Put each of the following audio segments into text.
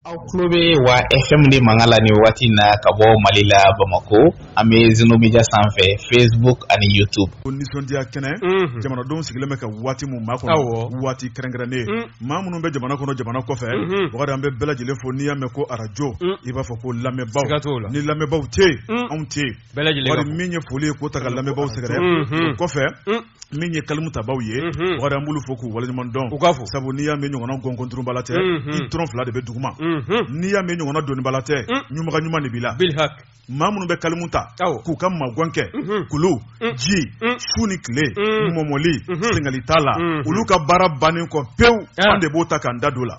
aw tulo bɛ wa fm de mankan la nin wagati na ka bɔ mali la bamakɔ an bɛ zenomedia sanfɛ facebook ani youtube ko nisɔndiya kɛnɛ mhm. jamanadenw sigilen bɛ ka waati min makɔnɔ waati kɛrɛnkɛrɛnnen mm. maa minnu bɛ jamana kɔnɔ jamana kɔfɛ mhm. bogari an bɛ bɛɛ lajɛlen fo n'i y'a mɛn ko arajo mm. i b'a fɔ ko lamɛnbaaw ni lamɛnbaaw tɛ yen mm. anw tɛ yen bogari min ye foli ye k'o ta ka lamɛnbaaw sɛgɛrɛ o kɔfɛ min ye kalimutabaaw ye bogari n b'olu fo k'u waleɲumandɔn u k'a fɔ sabu n'i y'a mɛn ɲɔgɔn gɔnɔnturuba tɛ i tɔrɔn fila de bɛ dugu ma n'i y'a mɛn ɲɔgɔn na doniba la tɛ ɲunbaga ɲuman de b'i la maa minnu bɛ kalimu ta k'u ka magan kɛ kulu ji su ni tile mɔmɔli sengali t'a la olu ka baara bannen kɔ pewu an de b'o ta k'an da don a la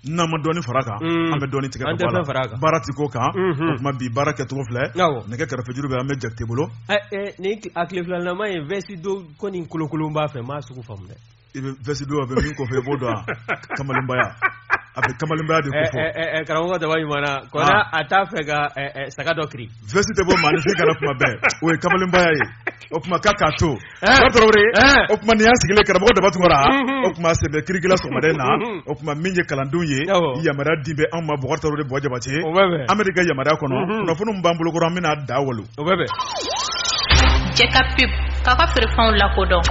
n'an ma dɔɔni fara a kan mm. an bɛ dɔɔni tigɛ ka bɔ a la baara ti k'o kan mm-hmm. o tuma bi baara kɛcogo filɛ nɛgɛ karafejuru bɛ an bɛ jakite bolo eh, eh, nin a tile filalama ye vɛsi don ko nin kolokolon b'a fɛ m'a sugu faamu dɛ i bɛ vɛsi don a bɛ min kɔfɔ i b'o dɔn kamalenbaya a bɛ kamalenbaya de kɔfɔ eh, eh, eh, karamɔgɔ daba ɲumanna kɔnɔ ah. a t'a fɛ ka saga dɔ kiri vɛsi tɛ bɔ maa ni se kan na kuma bɛɛ o ye kamalenbaya ye o kuma k'a k'a to eh. ba tarawele eh. o kuma ni an sigilen karamɔgɔ daba tunkara mhm. o kuma sɛbɛ kirikila sɔgɔmada in na mhm. o kuma min ye kalandenw ye yamaruya dilen bɛ anw ma bogari tarawele bɔ jabate an b'e de ka yamaruya kɔnɔ mhm. kunnafoni min b'an bolokɔrɔ an bɛna da wolo jɛ ka pep k'a ka feerefɛnw lakodɔn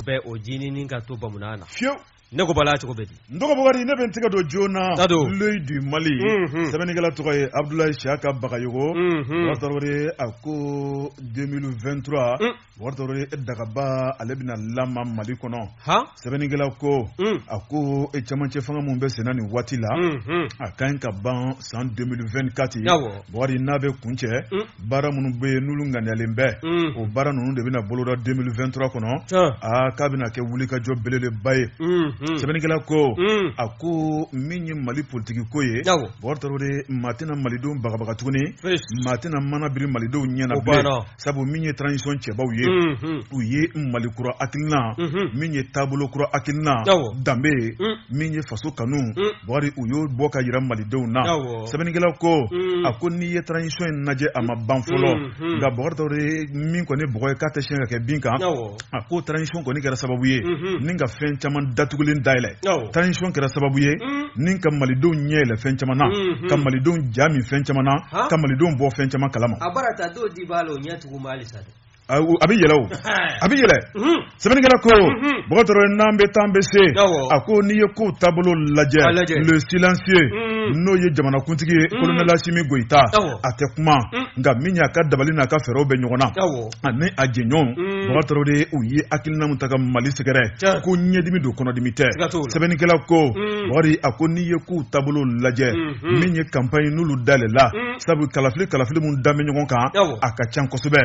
bɛ o jinin ka to bamanan na fiyewu ne ko bala cogo bɛ di n dɔgɔ bogari ne bɛ n tɛgɛ don joona Ta don. l'œil du mali Mhm. sɛbɛnnikɛla tɔgɔ ye abdulayi siyaka bagayogo Mhm. bogari tarawele a ko 2023 Mm. bogari tarawele dagaba ale bɛna lama mali kɔnɔ han sɛbɛnnikɛla ko Mm. a ko e camancɛ fanga min bɛ senna nin waati la Mhm. a ka ɲi ka ban san 2024 Yawɔ. bogari n'a bɛ kuncɛ Mm. baara minnu bɛ yen n'olu ŋaniyalen bɛ mm. o baara ninnu de bɛna boloda 2023 kɔnɔ aa k'a bɛna kɛ wulikajɔ belebeleba ye mm, mm. sɛbɛnnikɛla ko a ko min ye mali politiki ko ye bogari tarawele maa tɛna malidenw bagabaga tuguni maa tɛna mana biri malidenw ɲɛ na bilen sabu min ye transition cɛbaw ye u ye mali kura hakilina mm-hmm. min ye taabolo kura hakilina danbe ye min ye faso kanu bogari u y'o bɔ ka jira malidenw na sɛbɛnnikɛla ko a ko n'i ye transition in lajɛ a ma ban fɔlɔ nka bogari tarawele min kɔni bɔgɔ ye k'a tɛ siɲɛ ka kɛ bin kan a ko transition kɔni kɛra sababu ye ni ka fɛn caman datugulen dayɛlɛ transition kɛra sababu ye ni ka malidenw ɲɛ yɛlɛ fɛn caman na ka malidenw ja min fɛn caman na ka malidenw bɔ fɛn caman kalama A bɛ yɛlɛ a bɛ yɛlɛ sɛbɛnnikɛla ko Bukari Traore n'an bɛ taa an bɛ se a ko n'i ye kow taabolo lajɛ le silencieux n'o ye jamanakuntigi ye kolonɛli Asimi Goyita a tɛ kuma nka min y'a ka dabali n'a ka fɛɛrɛw bɛ ɲɔgɔn na ani a jɛɲɔgɔnw Bukari Traore u ye hakilina min ta ka mali sɛgɛrɛ ko ɲɛdimi don kɔnɔdimi tɛ sɛbɛnnikɛla ko Bukari a ko n'i ye kow taabolo lajɛ min ye kanpaɲi n'olu dalen la sabu kalafili kalafili min da bɛ ɲɔgɔn kan a ka ca kosɛbɛ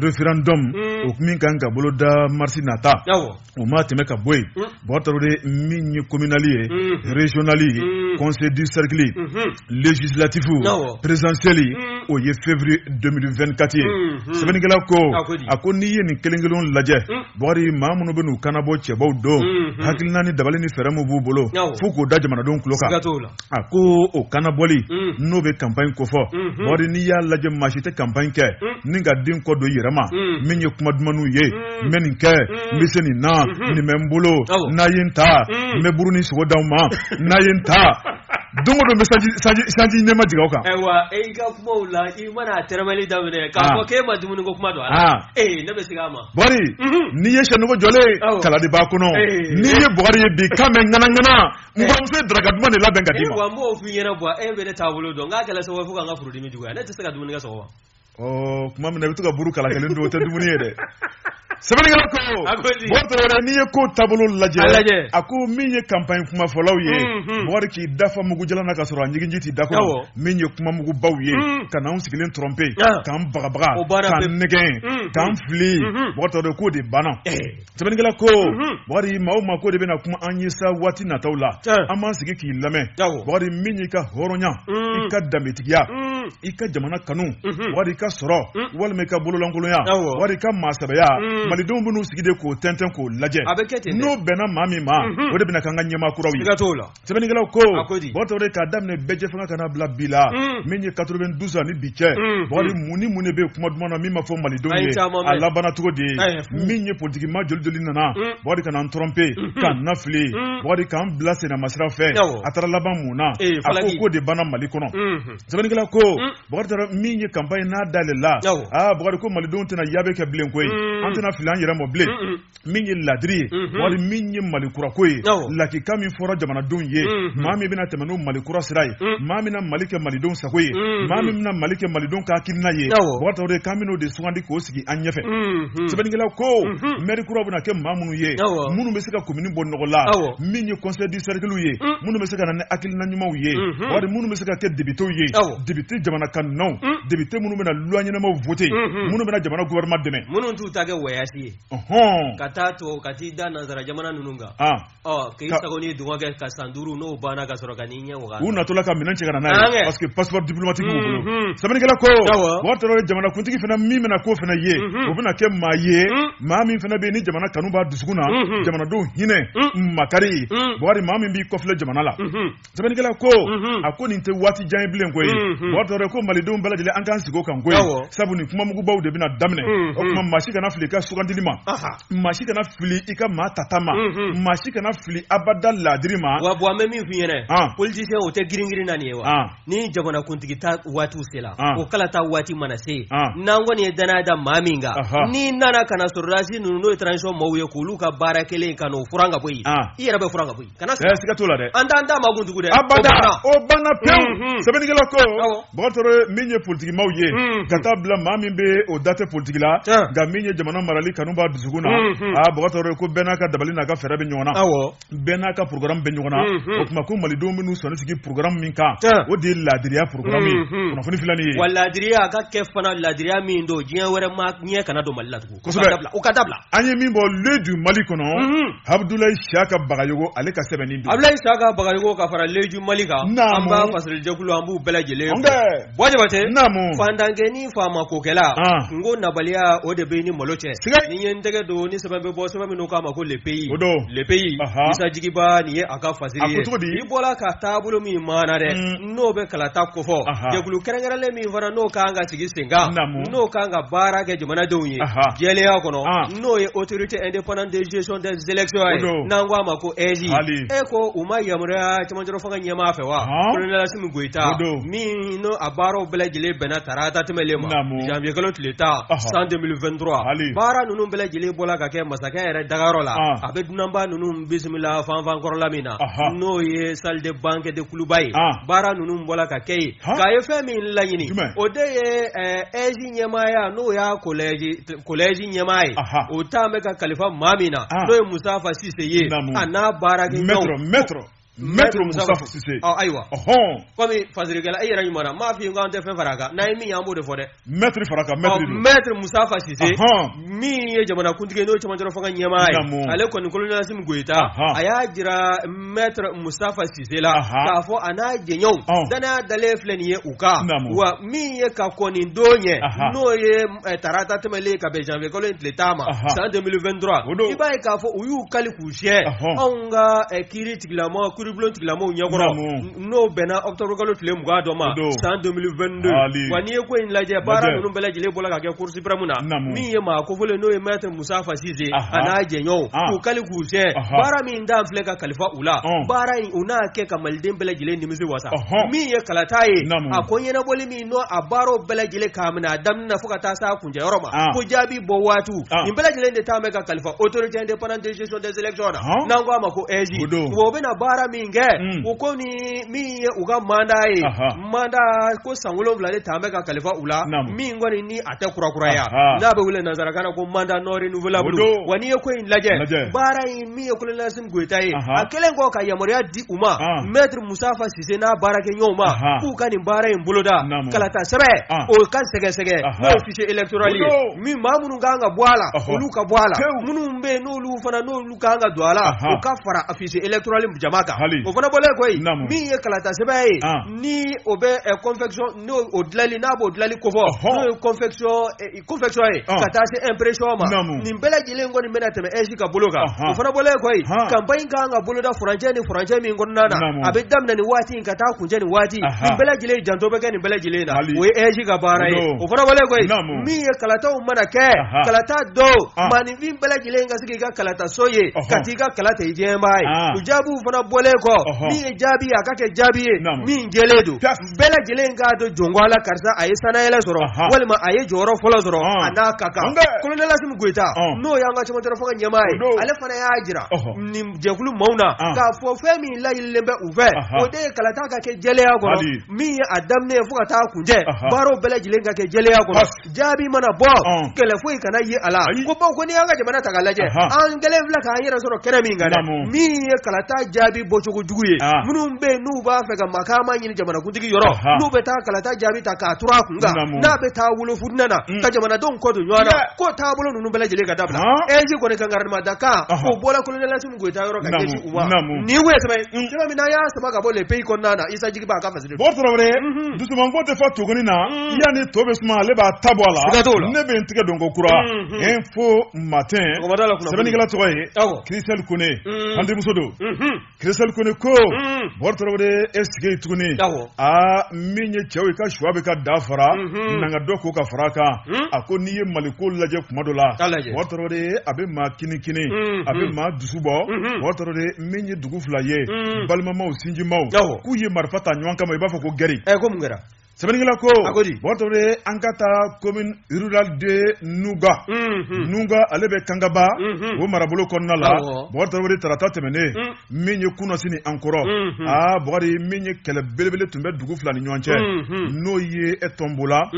referandɔmu o min kan ka boloda marisi nata o ma tɛmɛ ka bɔ yen mm. Bukari Traore min ye kominali ye mm. rezyonali ye mm. kɔnsɛyi de sɛrikili lezisilatifu perezidansiyɛli o ye feburuye 2024 ye mm-hmm. sɛbɛnnikɛla ko a ko n'i ye nin kelen kelen lajɛ Bukari maa minnu bɛn'u kanabɔ cɛbaw don mm-hmm. hakilina ni dabali ni fɛɛrɛ min b'u bolo fo k'o da jamanadenw tulo kan a ko o kanabɔli mm. n'o bɛ kanpaɲi kofɔ mm-hmm. Bukari n'i y'a lajɛ maa si tɛ kanpaɲi kɛ mm. ni ka den kɔ don i yɛrɛ ma mm. min ye kuma dumanw ye n bɛ nin kɛ n bɛ se nin na mm-hmm. nin bɛ n bolo n'a ye n ta n bɛ buru ni sogo d'aw ma n'a ye n ta don o don n bɛ sanji nɛɛma jigin aw kan. ayiwa e y'i ka kumaw la i mana a tɛrɛmɛli daminɛ k'a ah. fɔ k'e ma dumuni ko kuma don a la. Ah. ee eh, ne bɛ segin a ma. Bukari mhm. n'i ye syɛ nugu jɔlen kala de b'a kɔnɔ eh. n'i ye Bukari ye bi kan bɛ ŋanaŋana. mɔgɔmuso ye daraka duman de labɛn ka d'i ma. wa n b'o f'i ɲɛna bɔ e bɛ ne taabolo dɔn nka a kɛla sababu ye fo ka n ka furudimi juguya ne tɛ se ka dumuni kɛ sɔgɔma. ɔ tuma min na i bɛ to ka buru kala kelen dun o tɛ dumuni ye dɛ. sɛbɛnnikɛla ko Bukari Traore n'i ye ko taabolo lajɛ a ko min ye kanpaɲi kumafɔlaw ye Bukari k'i da fa mugujalan na ka sɔrɔ a ɲiginji t'i da kɔnɔ min ye kuma mugubaw ye ka n'anw sigilen trɔnpe k'an bagabaga k'an nɛgɛn k'an fili Bukari Traore k'o de banna Sɛbɛnnikɛla ko Bukari maa o maa ko de bɛna kuma an ye sa waati nataw la an b'an sigi k'i lamɛn Bukari min y'i ka hɔrɔnya i ka danbetigiya i ka jamana kanu Bukari i ka sɔrɔ walima i ka bololankolonya Bukari i ka maasɛbɛya malidenw bɛn'u sigi de k'o tɛntɛn k'o lajɛ n'o bɛnna maa min ma o de bɛna k'an ka ɲɛmaa kuraw ye. sɛbɛnnikɛla ko Bukari Traore k'a daminɛ bɛɛjɛfanga ka n'a bila bi la mm. min ye 92 ani bi cɛ mm. Bukari mm. mun ni mun de bɛ kuma duman na min ma fɔ malidenw ye a labanna cogo di min ye politikimaa joli joli nana Bukari ka n'an tɔrɔnpe mm-hmm. k'an nafili Bukari k'an bila sennamasira fɛ a taara laban mun na eh, a ko k'o de banna mali kɔnɔ mm-hmm. sɛbɛnnikɛla ko Bukari Traore min ye kanpaɲi n'a dalen la aa Bukari ko malidenw tɛna yaabe kɛ bilen koyi an tɛna fili an yɛrɛ ma bilen min ye laadiri ye mhm. wali min ye malikurako ye lakika min fɔra jamanadenw ye mhm. maa min bɛna tɛmɛ ni malikura sira ye mhm. maa min na mali kɛ malidenw sago ye maa min bɛna mali kɛ malidenw ka hakilina ye wagatɔ de k'an bɛn'o de sugandi k'o sigi an ɲɛfɛ sɛbɛnnikɛla ko mɛri kura bɛna kɛ maa minnu ye minnu bɛ se ka komini bɔ nɔgɔ la min ye conseil du cercle ye minnu bɛ se ka na ni hakilina ɲumanw ye wali minnu bɛ se ka kɛ depitew ye depite jamana kanunaw depite minnu bɛna loi ɲɛnamaw voter minnu bɛna jamana gouvernement dɛmɛ minnu t'u ta kɛ wɔyasi ye ka taa to ka t'i da nansara jamana ninnu kan k'i sago ni dungɔ kɛ ka san duuru n'o banna ka sɔrɔ ka n'i ɲɛ wa u natɔla ka minɛn cɛ ka n'a ye paseke passeport diplomatique bolo sɛbɛnnikɛla ko waati jamanakuntigi fana min bɛna ko fana ye o bɛna kɛ maa ye maa min fana bɛ ni jamana kanu b'a dusukun na jamanadenw hinɛ makari wali maa min b'i kɔfilɛ jamana la sɛbɛnnikɛla ko mhm. a ko nin tɛ waati jan ye bilen koyi mhm. mɔgɔ tɔɔrɔ ko malidenw bɛɛ lajɛlen an k'an sigi o kan koyi sabu nin kumamugubaw de bɛna daminɛ mhm. o tuma maa si kana fili i ka sugandili ma maa si kana fili i ka maa tata ma maa si kana fili abada laadiri ma wa bɔn an bɛ min f'i ɲɛna ah. politisiyɛn o tɛ giringirin na nin ye wa ah. ni jamanakuntigi ta waatiw sela ah. o kalata waati mana se n'an kɔni ye danaya da maa min kan n'i nana ka na sɔrɔdasi ninnu n'o ye transition maaw ye k'olu ka baara kɛlen ka n'o furan ka bɔ yen i yɛrɛ bɛ furan ka bɔ yen kana siga siga t'o la dɛ an t'an da maa kun tugun dɛ abada o banna pewu mhm. sɛbɛnnikɛla ko bɔgɔtɔrɔ min ye politikimaw ye mhm. ka taa bila maa min bɛ o da tɛ politiki la nka min ye jamana marali kanu b'a dusukun na mhm. a bɔgɔtɔrɔ ko bɛɛ n'a ka dabali n'a ka fɛɛrɛ bɛ ɲɔgɔn na bɛɛ n'a ka programme bɛ ɲɔgɔn na o tuma ko malidenw bɛn'u sɔnin sigi programme min kan o de ye laadiriya programme ye kunnafoni filɛ nin ye wa laadiriya a ka kɛ fana laadiriya min don diɲɛ wɛrɛ maa ɲɛ kana don mali la tugun o ka dabila an ye min bɔ l'œil du mali kɔnɔ abudulayi siyaka bagayogo ale ka sɛbɛnni don abudulayi siyaka bagayogo ka fara l'œil du mali kan an b'a fasirijɛkulu an b'u bɛɛ lajɛlen fo jabatɛ fantankɛnin faama kokɛla kunko nabaliya o de b'i ni malo cɛ nin ye n tɛgɛ don ni sɛbɛn bɛ bɔ sɛbɛn min an k'a ma ko le pays o don le pays isa jigiba nin ye a ka fasiri ye i bɔra ka taabolo min maana dɛ n'o bɛ kalata kofɔ jɛkulu kɛrɛnkɛrɛnlen min fana n'o ka kan ka sigi senkan n'o ka kan ka baara kɛ jamanadenw ye jɛya kɔnɔ n'o ye autorité indépendante des élections n'an ko a ma ko aige ko u maaw yamaruyara camancɛ fanga ɲɛmaa fɛ wa kolonɛli asimi goyita min n'a baaraw bɛɛ lajɛlen bɛnna tarata tɛmɛlen ma zanwuyekalo tile tan san deux mille vingt-trois baara ninnu bɛɛ lajɛlen bɔra ka kɛ masakɛ yɛrɛ dagayɔrɔ la a bɛ dunanba ninnu bisimila fanfankɔrɔla min na n'o ye salle de banquet de kuluba ye baara ninnu bɔra ka kɛ yen k'a ye fɛn min laɲini o de ye aige ɲɛmaaya n'o y'a kolɛji ɲɛmaa ye o tun bɛ ka kalifa maa min na n'o ye musitafa sise ye a n'a baarakɛlaw ayiwa kɔmi fasirikɛla e yɛrɛ ɲuman m'a fɔ i ko an tɛ fɛn fara a kan n'a ye min ye an b'o de fɔ dɛ mɛtiri fara ka mɛtiri don mɛtiri musitafa sise min ye jamanakuntigi n'o ye cɛmancɛrɔ fanga ɲɛmaa ye ale kɔni kolonɛli asimi goyita a y'a jira mɛtiri musitafa sise la k'a fɔ a n'a jɛɲɔgɔnw danaya dalen filɛ nin ye u kan wa min ye ka kɔni don ye n'o ye eh, tarata tɛmɛlen ka bɛn janvier kalo in tile tan ma san 2023 i b'a ye k'a fɔ u y'u kali k'u siyɛ anw ka eh, kiiri tigilamɔgɔ kiiribulon tigilamɔgɔw ɲɛkɔrɔ n'o bɛnna ɔkutɔburukalo tile mugan don ma san 2022 wa n'i ye ko in lajɛ baara ninnu bɛɛ lajɛlen bɔla ka kɛ cour suprême na min ye maa kofɔlen n'o ye mɛtiri musitafa sise a n'a jɛɲɔgɔnw k'u kali k'u siyɛ baara min talen filɛ ka kalifa u la baara in u n'a kɛ ka maliden bɛɛ lajɛlen nimisi wasa min ye kalata ye a ko ɲɛnabɔli min n'a baaraw bɛɛ lajɛlen k'a minɛ a daminɛ fo ka taa s'a kuncɛ yɔrɔ ma ah. ko jaabi bɔ waatiw ah. nin bɛɛ lajɛlen de talen bɛ ka kalifa autorité indépendante de gestion des élections na ah. n'an ko a ma ko AIGE o bɛna baara min kɛ hmm. o kɔni min ye u ka mandat ye mandat ko san wolonwula de talen bɛ ka kalifa u la min kɔni ni a tɛ kurakuraya n'a bɛ wele nansarakan na ko mandat non renouvelable wa n'i ye ko in lajɛ baara in min ye kolonɛli asimi goyita ye a kɛlen kɔ ka yamaruya di u ma maître musitafa si se n'a baarakɛɲɔgɔnw ma k'u ka nin baara in boloda kalata sɛbɛn o ka sɛgɛsɛgɛ n'o fichier électoral ye min maa minnu ka kan ka bɔ a la olu ka bɔ a la minnu bɛ yen n'olu fana n'olu ka kan ka don a la u ka fara a fichier électoral jama kan o fana bɔlen kɔ yen min ye kalata sɛbɛn ye ni o bɛ confection n'o dilanli n'a b'o dilanli kofɔ n'o ye confection confection ye ka taa se impression ma nin bɛɛ lajɛlen kɔni bɛna tɛmɛ AIGE ka bolo kan o fana bɔlen kɔ yen campagne kan ka boloda furancɛ ni furancɛ min kɔnɔna na a bɛ daminɛ nin waati in ka taa kuncɛ nin waati nin bɛɛ lajɛlen janto bɛ kɛ nin bɛɛ lajɛlen na o ye AIGE ka baara ye o fana bɔlen kɔ yen min ye kalataw mana kɛ kalata don maaninfin bɛɛ lajɛlen ka se k'i ka kalataso ye ka t'i ka kala ta i diyanyebaa ye o jaabiw fana bɔlen kɔ min ye jaabi ye a ka kɛ jaabi ye min jɛlen don bɛɛ lajɛlen k'a dɔn jɔn ko a la karisa a ye sannayɛlɛn sɔrɔ walima a ye jɔyɔrɔ fɔlɔ sɔrɔ a n'a ka kan kolonɛli asimi goyita n'o y'an ka cɛmancɛrɔ fanga ɲɛmaa ye ale fana y'a jira nin jɛkulu maaw na k'a fɔ fɛn min laɲinilen bɛ u fɛ o de ye kalata ka kɛ jɛlenya kɔnɔ min ye a daminɛ fo ka taa kuncɛ baaraw bɛɛ lajɛlen ka kɛ jɛlenya kɔnɔ jaabi mana bɔ kɛlɛ foyi kana ye a la ko bawo ko n'i y'an ka jamana ta ka lajɛ an kɛlen filɛ k'an yɛrɛ sɔrɔ kɛnɛ min kan dɛ min ye kalata jaabi bɔcogo jugu ye minnu bɛ yen n'u b'a fɛ ka makaama ɲini jamanakuntigi yɔrɔ n'u bɛ taa kalata jaabi ta k'a turu a kun kan n'a bɛ taa wolo fitinɛ na mm. ka jamanadenw kɔ don ɲɔgɔn na k'o taabolo ninnu bɛɛ lajɛlen ka dabila AIGE kɔni kankarimada kan k'o bɔra kolonɛli asimi goyita yɔrɔ ka ɲɛsin u ma nin ye sɛbɛn ye sɛbɛn min n'an y'a sama ka bɔ le pays kɔnɔna na isa jigiba ka Bɔ tarawele dusumanko tɛ fɔ tuguni na yanni to bɛ suma ale b'a ta bɔ a la ne bɛ n tigɛ don kokura Info Matin sɛbɛnnikɛla tɔgɔ ye Christelle Koné an denmuso don Christelle Koné ko bɔ tarawele e sigi tuguni aa min ye cɛw ye ka suwa bɛ ka da fara nana dɔ ko ka fara kan a ko n'i ye mali ko lajɛ kuma dɔ la bɔ tarawele a bɛ maa kinikini a bɛ maa dusu bɔ bɔ tarawele min dugu fila ye balimamaw sinjimaw k'u ye marifa ta ɲɔgɔn kama i b'a fɔ ko gɛrɛ kɛra sɛbɛnnikɛla ko bɔ tarawele an ka taa commune rurale de Nuga Nuga ale bɛ kangaba o marabolo kɔnɔna la bɔ tarawele tarata tɛmɛnen min ye kunasini an kɔrɔ aa bri min ye kɛlɛ belebele tun bɛ dugu fila ni ɲɔgɔn cɛ n'o ye e Tonbola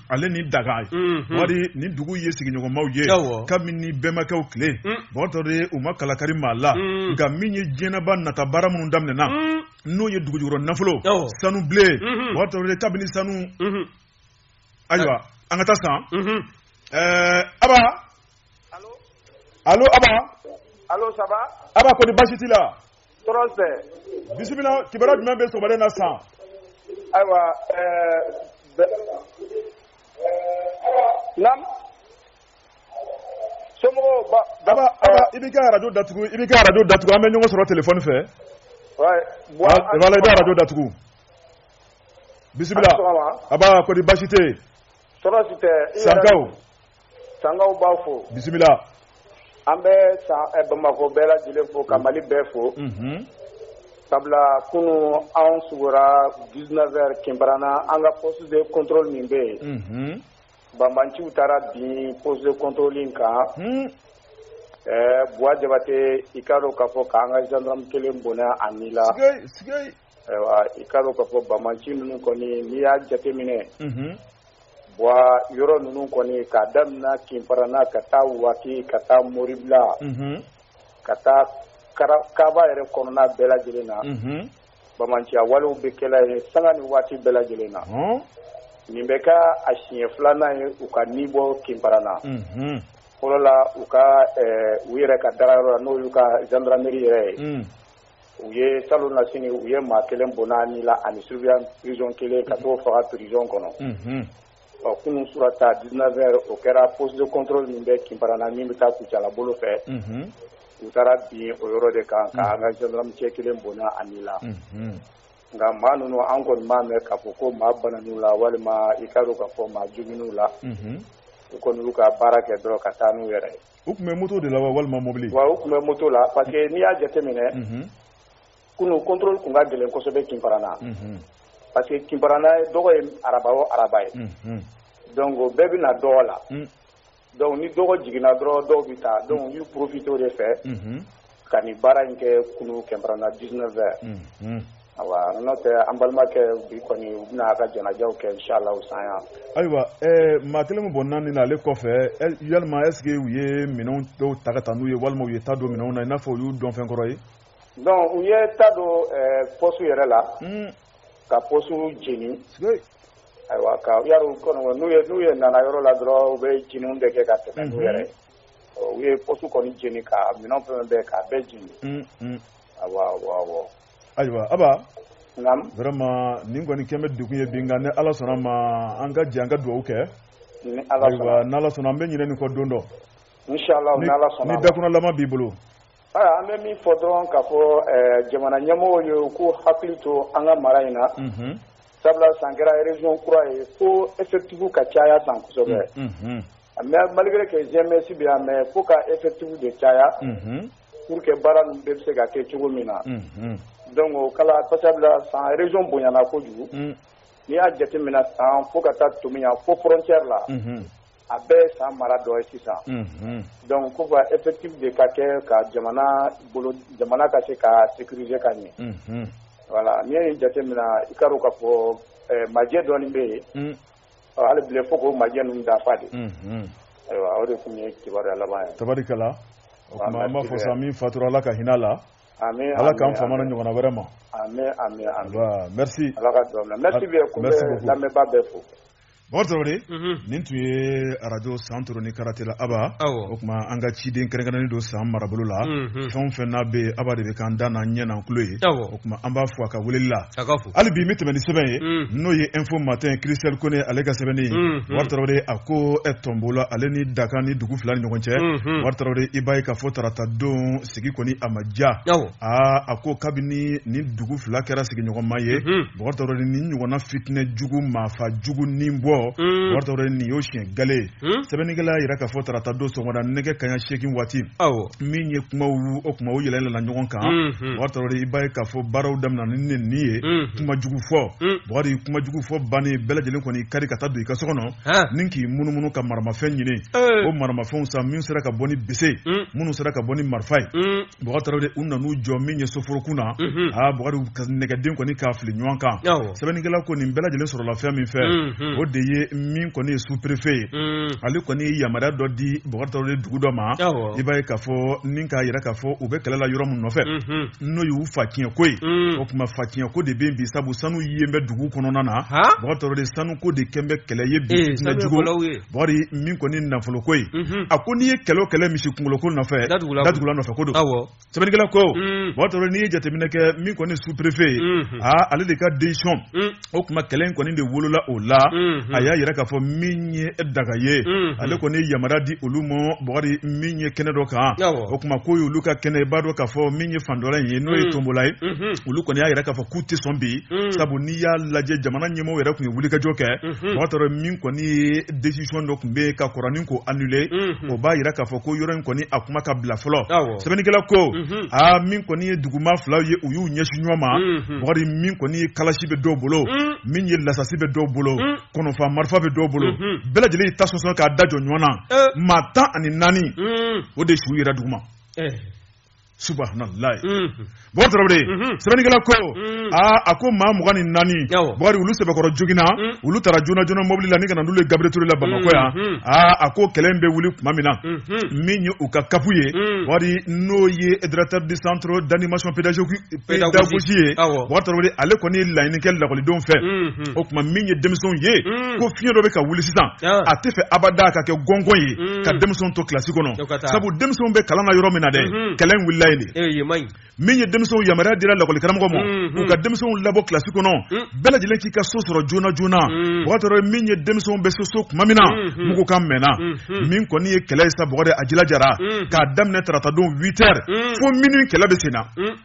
ale ni Danga wa nin dugu ye sigiɲɔgɔnmaw ye kabini bɛnbakɛw tile bɔ tarawele u ma kala kari maa la mm. nka min ye diɲɛba nata baara minnu daminɛna mm. n'o ye dugujukɔrɔ nafolo sanu bilen mm-hmm. bɔ tarawele kabini sanu mm-hmm. ayiwa an ka taa san mm-hmm. eh, aba alo aba alo ça va aba ko di baasi t'i la tɔɔrɔ tɛ bisimila kibaruya jumɛn bɛ sɔgɔmada na san ayiwa eh, eh, i b'i ka arajo datugu i b'i ka arajo datugu an bɛ ɲɔgɔn sɔrɔ telefɔni fɛ i bɛ arajo datugu bisimila aba ko di basi tɛ Sankaw b'aw fo bisimila an bɛ bamakɔ bɛɛ lajɛlen fo ka mali bɛɛ fo sabula kunun anw sigira 19 heures Kinparana an ka poste de contrôle min bɛ yen Banbaanciw taara bin poste de contrôle kan buwa jabatɛ i k'a dɔn k'a fɔ k'an ka zandaramu kelen bɔnɛ a ni la i k'a dɔn k'a fɔ banbaanci ninnu kɔni n'i y'a jateminɛ buwa yɔrɔ ninnu kɔni k'a daminɛ Kinparana ka taa Waki ka taa moribila ka taa Karaba yɛrɛ kɔnɔna bɛɛ lajɛlen na banbaanciya walew bɛ kɛ la yen sanga ni waati bɛɛ lajɛlen na nin bɛ k'a siɲɛ filanan ye u ka ni bɔ Kinparana fɔlɔ la u ka u yɛrɛ ka dagayɔrɔ la n'o y'u ka zandarameri yɛrɛ ye u ye salonnasini u ye maa kelen bɔn'a ni la ani surveillant prizɔn kelen ka t'o faga prizɔn kɔnɔ ɔ kunun surata 19 heures o kɛra poste de contrôle min bɛ Kinparana min bɛ taa Kucala bolo fɛ, unhun, u taara bin o yɔrɔ de kan ka an ka gendarme cɛ kelen bɔnɛ a ni la, unhun, nka maa ninnu an kɔni m'a mɛn k'a fɔ ko maa banan'u la walima i k'a dɔn k'a fɔ maa joginn'u la, unhun, u kɔni y'u ka baara kɛ dɔrɔn ka taa n'u yɛrɛ ye. U tun bɛ moto de la wa walima mobili? Wa u tun bɛ moto la parce que n'i y'a jateminɛ, unhun. kunun controle tun ka gɛlɛn kosɛbɛ Kimparana, unhun, parce que Kimparana dɔgɔ ye araba o araba ye, unhun, donc bɛɛ bɛ na dɔgɔ la, un, donc ni dɔgɔ jiginna dɔrɔn dɔw bɛ taa donc u y'u profiter o de fɛ, unhun, ka nin baara in kɛ kunun Kimparana 19 heures, unhun. awa n'o tɛ an balimakɛ bi kɔni u bɛna a ka janajaw kɛ inshallah san yan. ayiwa ɛɛ maa kelen min bɔnɛna a ni na ale kɔfɛ yalima est ce que u ye minɛnw dɔw ta ka taa n'u ye walima u ye ta don minɛnw na i n'a fɔ u y'u dɔn fɛn kɔrɔ ye. Donc u ye ta don pɔsi yɛrɛ la ka pɔsi jeni ayiwa ka ya kɔnɔ n'u ye n'u ye nana yɔrɔ la dɔrɔn u bɛ jeni de kɛ ka tɛmɛ n'u yɛrɛ u ye pɔsi kɔni jeni ka minɛn fɛn bɛɛ k'a bɛɛ jeni ayiwa Aba vraiment nin kɔni kɛmɛ bɛ dugu ye bi ni ala sɔnna ma an ka jɛ an ka dugawu kɛ ayiwa n'ala sɔnna an bɛ ɲinin nin kɔ don dɔ ni dakun laban b'i bolo Aa an bɛ min fɔ dɔrɔn k'a fɔ ɛɛ jamana ɲɛmɔgɔw ye u k'u hakili to an ka mara in na. Unhun. Sabula san kɛra région kura ye fo effectifs ka caya san kosɛbɛ. Unhun. Mais malgré que GMS bɛ yan mais fo ka effectifs de caya. Unhun. Pour que baara ninnu bɛɛ bɛ se ka kɛ cogo min na. Unhun. Donc o kala sabula san région bonyana kojugu. Un. N'i y'a jateminɛ san fo ka taa Tominian fo frontière la. Unhun. A bɛɛ ye san mara dɔ ye sisan donc ko ka effectif de ka kɛ ka jamana jamana ka se ka sécuriser ka ɲɛ voilà n'i y'a jateminɛ i ka k'a fɔ moyen dɔ bɛ yen hali tile fo ka moyen ninnu dafa de ayiwa o de tun ye kibaruya laban ye tarikɛla o b'a fɔ sa min fatura ala ka hinɛ a la ala k'an fama a ɲɔgɔn na vraiment ala ka bɛ lamɛnbaa bɛɛ fo Bakari Tarawele, unhun, nin tun ye radio Santoro ni Karantela Aba, awɔ, o tuma an ka ciden kɛrɛnkɛrɛnnen don san marabolo la, unhun, fɛn o fɛn n'a bɛ yen Aba de bɛ k'an da n'an ɲɛ n'an tulo ye, awɔ, o tuma an b'a fo a ka weleli la. a ka fo, hali bi n bɛ tɛmɛn ni sɛbɛn ye un, n'o ye info matin Christelle Kone ale ka sɛbɛnni ye unhun, Bakari Tarawele a ko ɛ, Tɔnbɔla ale ni Danga nin dugu fila ni ɲɔgɔn cɛ unhun, Bakari Tarawele i b'a ye k'a fɔ tarata don sigi kɔni a ma diya aa a ko kabini nin dugu fila kɛra sigiɲɔgɔnma ye Bakari Tarawele mhm. nin ɲɔgɔnna fitinɛ jugu maafa jugu nin bɔ Bakari Tarawele mhm. nin y'o siɲɛ gale mhm. sɛbɛnnikɛla y'a yira k'a fɔ tarata don sɔgɔmada nɛgɛ kanɲɛ seegin waati min ye kuma o kuma o yɛlɛla ɲɔgɔn kan Bakari Tarawele i b'a ye k'a fɔ baaraw daminɛ ni nɛni ye kuma jugu fɔ Bakari kuma jugu fɔ bannen bɛɛ lajɛlen kɔni kari ka taa don i ka so kɔnɔ ni k'i munumunu ka maramafɛn ɲini o maramafɛnw sa min sera ka bɔ ni bese minnu sera ka bɔ ni marifa ye Bakari Tarawele u nana u jɔ min ye soforokun na aa nɛgɛden kɔni k'a fili ɲɔgɔn kan sɛbɛnnikɛla ko nin bɛɛ lajɛlen sɔrɔla fɛn min fɛ o de ye min kɔni ye sous-préfet ye ale kɔni ye yamaruya dɔ di Bakari Tarawele dugu dɔ ma i b'a ye k'a fɔ ni k'a jira k'a fɔ u bɛ kɛlɛla yɔrɔ min nɔfɛ n'o y'u fa tiɲɛ ko ye mm. o tuma fa tiɲɛ ko de bɛ yen bi sabu sanu in bɛ dugu kɔnɔna na Bakari Tarawele sanu ko de kɛlen bɛ kɛlɛ ye bi eh, bana jugu Bakari min kɔni nafolo ko ye mm-hmm. a ko n'i ye kɛlɛ o kɛlɛ misi kunkolo ko nɔfɛ datugula nɔfɛ ko don sɛbɛnnikɛla ko mm. Bakari Tarawele n'i ye jateminɛ kɛ min kɔni sous-préfet ye mm-hmm. aa ah, ale de ka décision mm. o tuma kɛlɛ in kɔni de wolola o la a y'a jira k'a fɔ min ye Danga ye ale kɔni ye yamari di olu ma Bakari min ye kɛnɛ dɔ kan o tuma ko olu ka kɛnɛ i b'a dɔn k'a fɔ min ye fan dɔ la in ye n'o ye Tonbola ye olu kɔni y'a jira k'a fɔ k'u tɛ sɔn bi sabu n'i y'a lajɛ jamana ɲɛmɔgɔ yɛrɛ tun ye wulikajɔ kɛ Bakari Tarawele min kɔni ye desisɔn dɔ tun bɛ yen ka kɔrɔ nin k'o anule o b'a jira k'a fɔ ko yɔrɔ in kɔni a kuma ka bila fɔlɔ sɛbɛnnikɛla ko aa min kɔni ye dugumaa filaw ye u y'u ɲɛsin ɲɔgɔn ma Bakari mm. min kɔni ye kalasi bɛ dɔw bolo mm. min ye lasasi bɛ dɔw bolo mm. kɔnɔfa marifa bɛ dɔw bolo mm-hmm. bɛɛ lajɛlen y'i ta sɔsɔ k'a da jɔ ɲɔgɔn na eh. maa tan ani naani o de su yera duguma eh. subahanallahi mm-hmm. Bakari Tarawele mm-hmm. sɛbɛnnikɛla ko mm. aa a ko maa mugan ni naani Bakari olu sɛbɛkɔrɔ joginna mm. olu tara joona joona mɔbili la nin ka na n'olu ye Gabriel Touré la Bamakɔ yan mm-hmm. aa a ko kɛlɛ in bɛ wuli tuma min na min ye u ka kapu ye Bakari mm. n'o ye directeur du centre d'animation pédagogique pedagogie ye Bakari Tarawele ale kɔni ye laɲini kɛ lakɔlidenw fɛ mhm. o tuma min ye denmisɛnw ye mhm. ko fiɲɛ dɔ bɛ ka wuli sisan ah. a t'a fɛ abada ka kɛ gɔngɔn ye mhm. ka denmisɛnw to kilasi kɔnɔ sabu denmisɛnw bɛ kalan na yɔrɔ min na dɛ kɛlɛ in wulila yen de eh, min ye denmisɛnw yamaruya dira lakɔlikaramɔgɔ ma u ka denmisɛnw labɔ kilasi kɔnɔ bɛɛ lajɛlen k'i ka so sɔrɔ joona joona Bakari Tarawele min ye denmisɛnw bɛ se so tuma min na mugu kan mɛnna min kɔni ye kɛlɛ ye sa Bakari a jilajara k'a daminɛ tarata don 8 heures fo minuit kɛlɛ bɛ sen na hmm.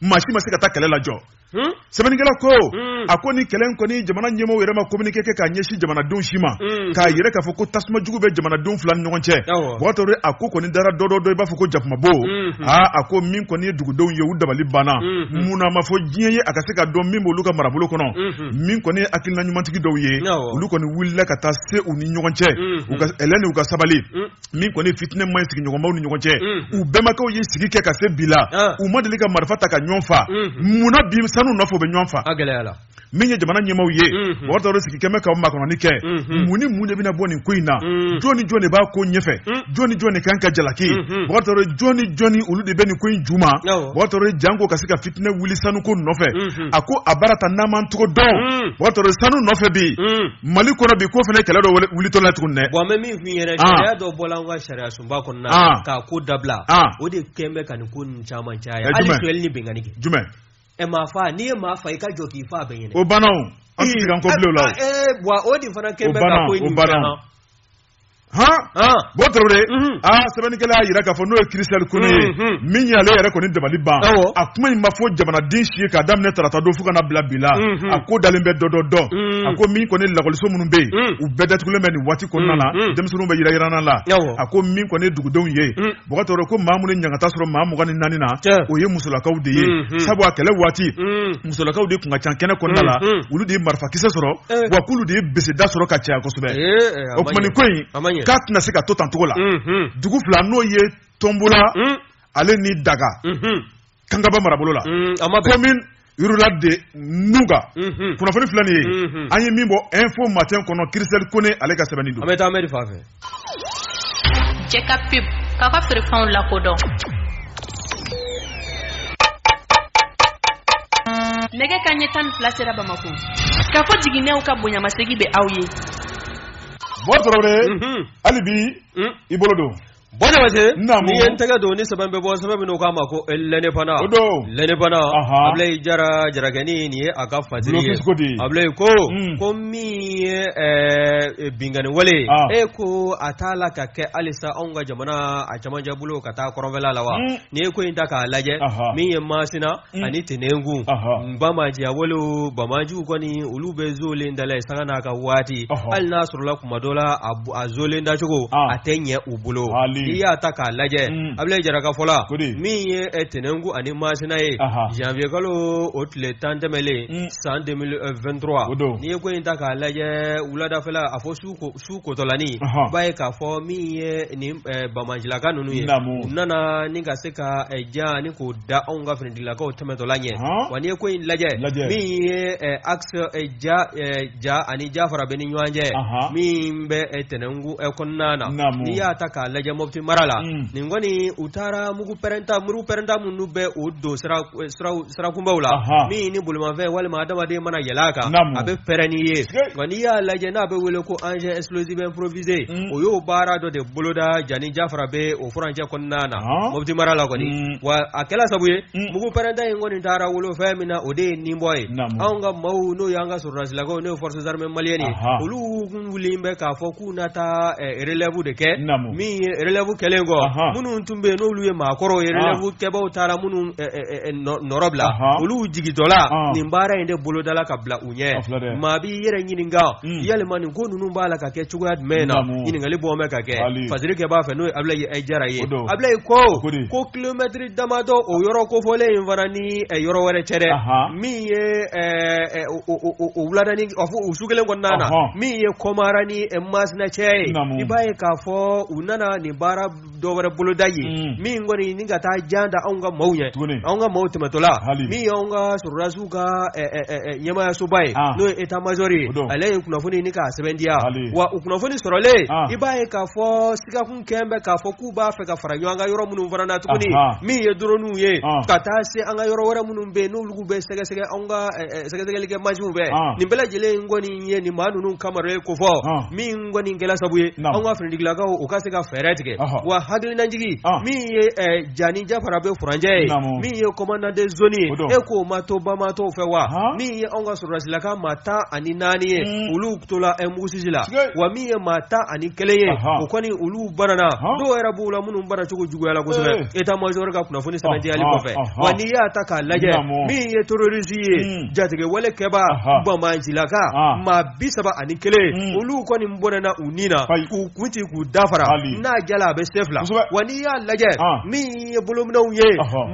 maa si ma se ka taa kɛlɛ lajɔ hmm? sɛbɛnnikɛla ko hmm. a ko ni kɛlɛ in kɔni jamana ɲɛmɔgɔw yɛrɛ ma communiqué kɛ k'a ɲɛsin jamanadenw si ma k'a jira k'a fɔ ko tasuma jugu bɛ jamanadenw fila ni ɲɔgɔn cɛ Bakari Tarawele a ko kɔni dara dɔ dɔ dɔ i b'a fɔ ko jakumabo aa a ko min kɔni ye dugudenw ye u dabali banna munna a ma fɔ diɲɛ ye a ka se ka dɔn min b'olu ka marabolo kɔnɔ min kɔni ye hakilina ɲumantigi dɔw ye olu kɔni wulila ka taa se u ni ɲɔgɔn cɛ u ka ɛlɛn ni u ka sabali min kɔni fitinɛ man sigiɲɔgɔnmaw ni ɲɔgɔn cɛ u bɛnbakɛw ye sigi kɛ ka se bi la u ma deli ka marifa ta ka ɲɔgɔn fa munna bi sanu nɔfɛ bɛ ɲɔgɔn fa min ye jamana ɲɛmaaw ye Bakari Tarawele sigi kɛlen bɛ ka makɔnɔni kɛ mun ni mun de bɛna bɔ nin ko in na jɔn ni jɔn de b'a ko ɲɛfɛ jɔn ni jɔn de ka kan ka jalaki Bakari Tarawele jɔn ni jɔnni olu de bɛ nin ko in ju ma Bakari Tarawele janko ka se ka fitinɛ wuli sanuko nɔfɛ a ko a baara ta n'an m'an cogo dɔn Bakari Tarawele sanu nɔfɛ bi Mali kɔnɔ bi ko fana kɛlɛ dɔ wulitɔ la tuguni dɛ min yɛrɛ ah. sariya dɔ bɔla an ka sariya sunba kɔnɔna ah. k'a ko dabila ah. o de kɛn bɛ ka nin ko ninnu caman caya eh, hali filɛli ni binkanni kɛ jumɛn ɛ eh, maa fa n'i ye maa fa i ka jɔ k'i fa bɛɛ ɲɛ na o banna o an ti kan ko bilen o la wa o de fana kɛn bɛ ka ko in caman han bɔ tarawele mhm. a sɛbɛnnikɛla y'a yira k'a fɔ n'o ye kirisitɛli kone ye mhm. min ye ale yɛrɛ kɔni dabali banna kuma in ma fɔ jamanaden si ye k'a daminɛ tarata don fo ka n'a bila bi la mhm. a ko dalen bɛ dɔ dɔ dɔn a ko min kɔni lakɔliso minnu bɛ yen u bɛɛ datugulen bɛ nin waati kɔnɔna na denmisɛnninw bɛ yiranyiran na la a ko min kɔni ye dugudenw ye bɔgɔtɔ ko maa minnu ye ɲangata sɔrɔ maa mugan ni naani na o ye musolakaw de ye sabu a kɛlɛ waati musolakaw de tun ka ca kɛnɛ kɔnɔna la olu de ye marifakisɛ sɔrɔ wa k'olu de ye bilesida sɔrɔ ka caya kosɛbɛ o tuma ko in k'a tɛna se ka to tan cogo la dugu fila n'o ye tonbula ale ni danga kangaba marabolo la commune rurale de nuga kunnafoni filɛ nin ye an ye min bɔ info matin kɔnɔ kirisɛli kone ale ka sɛbɛnni don an bɛ taa mɛri fan fɛ cɛ ka pub k'a ka feerefɛnw lakodɔn nɛgɛ kanɲɛ tan ni fila sera bamakɔ kafo jiginɛw ka bonyamasegi bɛ aw ye bɔ tarawele hali bi i bolo don bɔnɛ ma se Naamu. n'i ye n tɛgɛ don ni sɛbɛn bɛ bɔ sɛbɛn min n'u k'a ma ko eh, l'indépendant O don. l'indépendant Aha. abulayi jara jarakɛnin in ye a ka fatiri ye Bulɔkisi ko de ye. abulayi ko Mm. ko min ye eh, binkanni wale ye, Ah. e ko a t'a la ka kɛ halisa anw ka jamana a cɛmancɛ bolo ka taa kɔrɔnfɛla la wa Mm. n'i ye ko in ta k'a lajɛ Aha. min ye masina Mm. ani tɛnɛnku banbaanciya wale o banbaanciw kɔni olu bɛ zolen da la yen sanga n'a ka waati hali n'a sɔrɔla kuma dɔ la a zolen dacogo ah. a tɛ ɲɛ u bolo n'i y'a ta k'a lajɛ mm. abulayi jara ka fɔ la min ye eh, tɛnɛnku ani masina ye janvier kalo o tile tan tɛmɛlen mm. san 2023 n'i ye ko in ta k'a lajɛ wuladafɛla a fɔ su ko su kotɔla n'i b'a ye k'a fɔ min ye ni banbaancilaka ninnu ye u nana ni ka se ka jan nin k'o da anw ka finitigilakaw tɛmɛtɔla ɲɛ wa n'i ye ko in lajɛ min ye axe ja ani jafarabɛ ni ɲɔgɔn cɛ min bɛ tɛnɛnku kɔnɔna na n'i y'a ta k'a lajɛ moti mara la nin kɔni u taara mugu pɛrɛnta mugu pɛrɛnta minnu bɛ o don sira sirakunbaw la min ni bolimafɛn walima adamaden mana yɛlɛ a kan a bɛ pɛrɛn n'i ye nka n'i y'a lajɛ n'a bɛ wele ko engin explosif improvisé mm. u y'o baara dɔ de boloda ja ni jafarabɛ o furancɛ kɔnɔna na moti mara la kɔni mm. wa a kɛla sabu ye mm. mugu pɛrɛnta in kɔni taara wolo fɛn min na o de ye nin bɔ ye anw ka maaw n'o y'an ka sɔrɔdasilakaw n'o ye forces armées maliennes ye olu wuli bɛ k'a fɔ u na taa relɛvu de kɛ min ye relɛvu kɛlen kɔ minnu tun bɛ yen n'olu ye maakɔrɔw ye relɛvu kɛbaw taara minnu nɔrɔ bila olu jigintɔla nin baara in de bolodala ka bila u ɲɛ maa b'i yɛrɛ ɲininka yalima nin ko ninnu b'a la ka kɛ cogoya jumɛn na ɲininkali bɔ bɛ ka kɛ fasirikɛba fɛ n'o abilayi jara ye abilayi ko kilomɛtiri damadɔ o yɔrɔ kofɔlen in fana ni yɔrɔ wɛrɛ cɛ dɛ min ye o su kelen kɔnɔna na min ye kɔmara ni masina cɛ ye i b'a ye k'a fɔ u nana nin baara dɔ wɛrɛ boloda ye mm. min kɔni ni ka taa jan da anw ka maaw ɲɛ anw ka maaw tɛmɛtɔla min ye anw ka sɔrɔdasiw ka ɲɛmaayasoba ye n'o ye eta mazɔri ye ale ye kunnafoni ni k'a sɛbɛndiya wa o kunnafoni sɔrɔlen i b'a ye k'a fɔ sigakun kɛlen bɛ k'a fɔ k'u b'a fɛ ka fara ɲɔgɔn kan yɔrɔ minnu fana na tuguni min ye drone ye ka taa se an ka yɔrɔ wɛrɛ minnu bɛ yen n'olu bɛ sɛgɛsɛgɛ anw ka sɛgɛsɛgɛlikɛ mansinw bɛɛ nin bɛɛ lajɛlen kɔni ye nin maa ninnu kamara ye ko fɔ min kɔni kɛlɛ sabu ye anw ka finitigilakaw u ka se ka fɛɛrɛ tigɛ wa hakilinajigi min ye ja ni jafarabɛ furancɛ ye min ye kɔmandan de zoni ye e k'o ma to bamatɔ fɛ wa min ye anw ka sɔrɔdasilaka maa tan ani naani ye olu tola mugusisi la wa min ye maa tan ani kelen ye o kɔni olu banana dɔw yɛrɛ b'u la minnu bana cogo juguyala kosɛbɛ eta mazɔri ka kunnafoni sɛbɛndiyali kɔfɛ wa n'i y'a ta k'a lajɛ min ye terorisi ye hmm. jatigɛwale kɛba bamancilaka maa bi saba ani kelen hmm. olu kɔni bɔnɛna u ni na k'u kun ci k'u dafara n'a jala a bɛ se fila wa n'i y'a lajɛ min ye bolominɛnw ye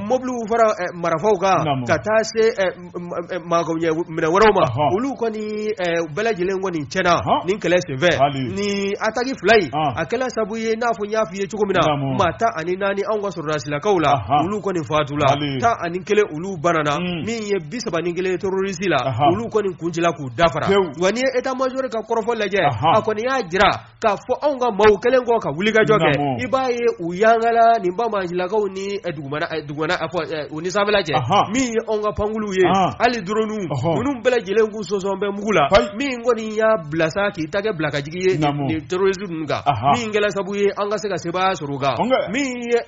mobiliw fara eh, marafaw kan ka taa se eh, minɛn wɛrɛw ma olu kɔni bɛɛ lajɛlen kɔni cɛnna nin kɛlɛ senfɛ nin ataki fila in a kɛla sabu ye n'a fɔ n y'a fɔ i ye cogo min na maa tan ani naani anw ka sɔrɔdasilakaw la olu kɔni fatula tan ani kelen olu banana min ye bi saba ni kelen terorisi la olu kɔni kun cila k'u dafara wa n'i ye eta mazɔri ka kɔrɔfɔ lajɛ a kɔni y'a jira k'a fɔ anw ka maaw kɛlen kɔ ka wulikajɔ kɛ i b'a ye u yangala nin bamancilakaw ni eh, dugumana eh, dugumana eh, fɔ u ni sanfɛla cɛ min ye anw ka pankulunw ye hali droniw ninnu bɛɛ lajɛlen k'u sɔsɔn bɛ mugu la min kɔni y'a bila sa k'i tɛgɛ bila ka jigin ye nin terroriste ninnu kan min kɛla sabu ye an ka se ka sebaaya sɔrɔ u kan min ye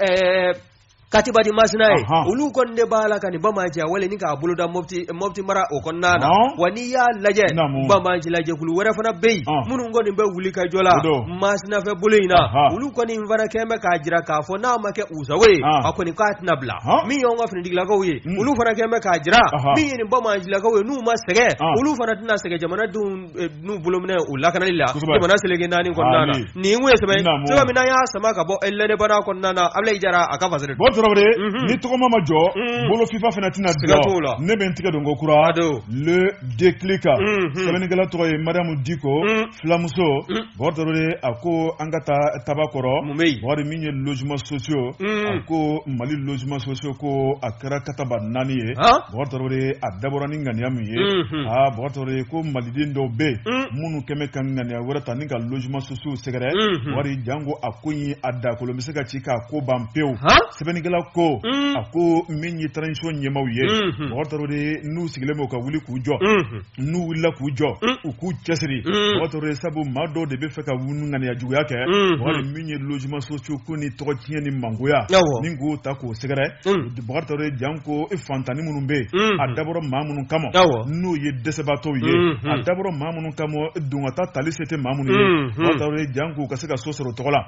katiba di masina ye olu kɔni de b'a la ka nin bamanciya wale nin k'a boloda mɔti mɔti mara o kɔnɔna na wa n'i y'a lajɛ bamanci lajɛkulu wɛrɛ fana bɛ yen minnu kɔni bɛ wulikajɔ la masina fɛ bolo in na olu kɔni fana kɛlen bɛ k'a jira k'a fɔ n'a ma kɛ u sago ye a kɔni k'a tɛna bila min y'an ka finitigilakaw ye olu fana kɛlen bɛ k'a jira min ye nin bamancilakaw ye n'u ma sɛgɛn olu fana tɛna sɛgɛn jamanadenw n'u bolominɛ u lakanali la jamana seleke naani kɔnɔna na nin ko ye sɛbɛn cogo min y'a sama ka bɔ l'indépendant kɔnɔna na abulayi jara a ka fasiri bɔ tarawele ni tɔgɔ ma majɔ bolo fifa fana tɛna diya t'o la ne bɛ n tigɛ don ko kura le déclic kan sɛbɛnnikɛla tɔgɔ ye mariamu diko filamuso bɔ tarawele a ko an ka taa tabakɔrɔ bari min ye logement sociaux a ko mali logement sociaux ko a kɛra kataba naani ye ye a dabɔra ni ŋaniya min ye aa bɔgɔ tarawele ko maliden dɔw bɛ yen minnu kɛlen bɛ ka ŋaniya wɛrɛ ta ni ka logement sociaux sɛgɛrɛ bari janko a ko nin a dakolo bɛ se ka ci k'a ko ban pewu sɛbɛnnikɛla ko a ko min ye transition ɲɛmaaw ye bɔgɔ tarawele n'u sigilen bɛ u ka wuli k'u jɔ n'u wulila k'u jɔ mm. u k'u cɛsiri mm. bɔgɔ tarawele sabu maa dɔw de b'a fɛ ka ŋaniya juguya kɛ mm-hmm. bari min ye logement sociaux ko nin tɔgɔ tiɲɛ ni mangoya ni k'o ta k'o sɛgɛrɛ mm. bɔgɔ tarawele janko e faantannin minnu bɛ mm-hmm. a dabɔra maa minnu kama n'o ye dɛsɛbaatɔw ye mm-hmm. a dabɔra maa minnu kama e donkata tali se tɛ maa minnu ye bɔgɔ tarawele jank'u ka se ka so sɔrɔ tɔgɔ la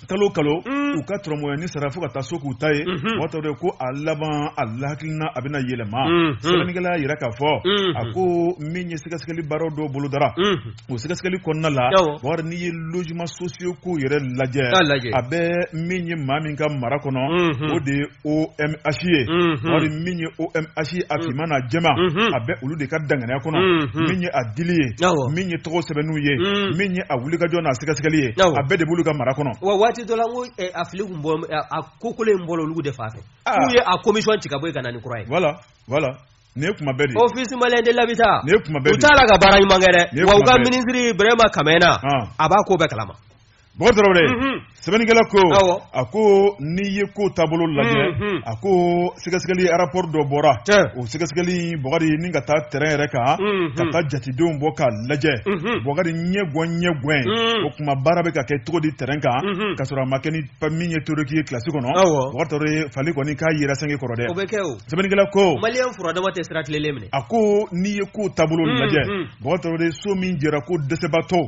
kalo kalo mm. u ka tɔrɔmɔya ni sara fo ka taa so k'u ta ye mm-hmm. bɔgɔ tarawele ko a laban a lahakilina a bɛna yɛlɛma mm-hmm. sɛbɛnnikɛla y'a yira k'a fɔ mm-hmm. a ko min ye sɛgɛsɛgɛli baaraw dɔw bolodara o sɛgɛsɛgɛli kɔnɔna la bari n'i ye logement sociaux ko yɛrɛ lajɛ a bɛ min ye maa min ka mara kɔnɔ o de OMH ye bari min ye OMH ye a financement a bɛ olu de ka danganiya kɔnɔ min ye a dili ye min ye tɔgɔ sɛbɛnw ye min ye a wulikajɔ n'a sɛgɛsɛgɛli ye a bɛɛ de b'olu ka mara kɔnɔ wa waati dɔ la a fili bɔ a ko kolo in bɔ olu de fan fɛ n'u ye a commission ci ka bɔ yen ka na ni kura ye wala wala ni ye kuma bɛɛ office malien de l'habitat u taara la ka baara ɲuman kɛ dɛ wa u ka minisiri bɛrɛma kamena a b'a ko bɛɛ kalama Bɔgɔ tarawele sɛbɛnnikɛla ko a ko n'i ye ko taabolo lajɛ a ko sɛgɛsɛgɛli rapport dɔ bɔra o sɛgɛsɛgɛli bɔgɔ ni ka taa terrain yɛrɛ kan ka taa jatedenw bɔ ka lajɛ bɔgɔ ɲɛ ɲɛ o tuma baara bɛ ka kɛ cogo di terrain kan ka sɔrɔ a ma kɛ ni min ye théorique ye kilasi kɔnɔ fɔli kɔni k'a yira san kɔrɔ dɛ sɛbɛnnikɛla ko a ko n'i ye ko taabolo lajɛ Bɔgɔ tarawele so min jɔra ko dɛsɛbaatɔ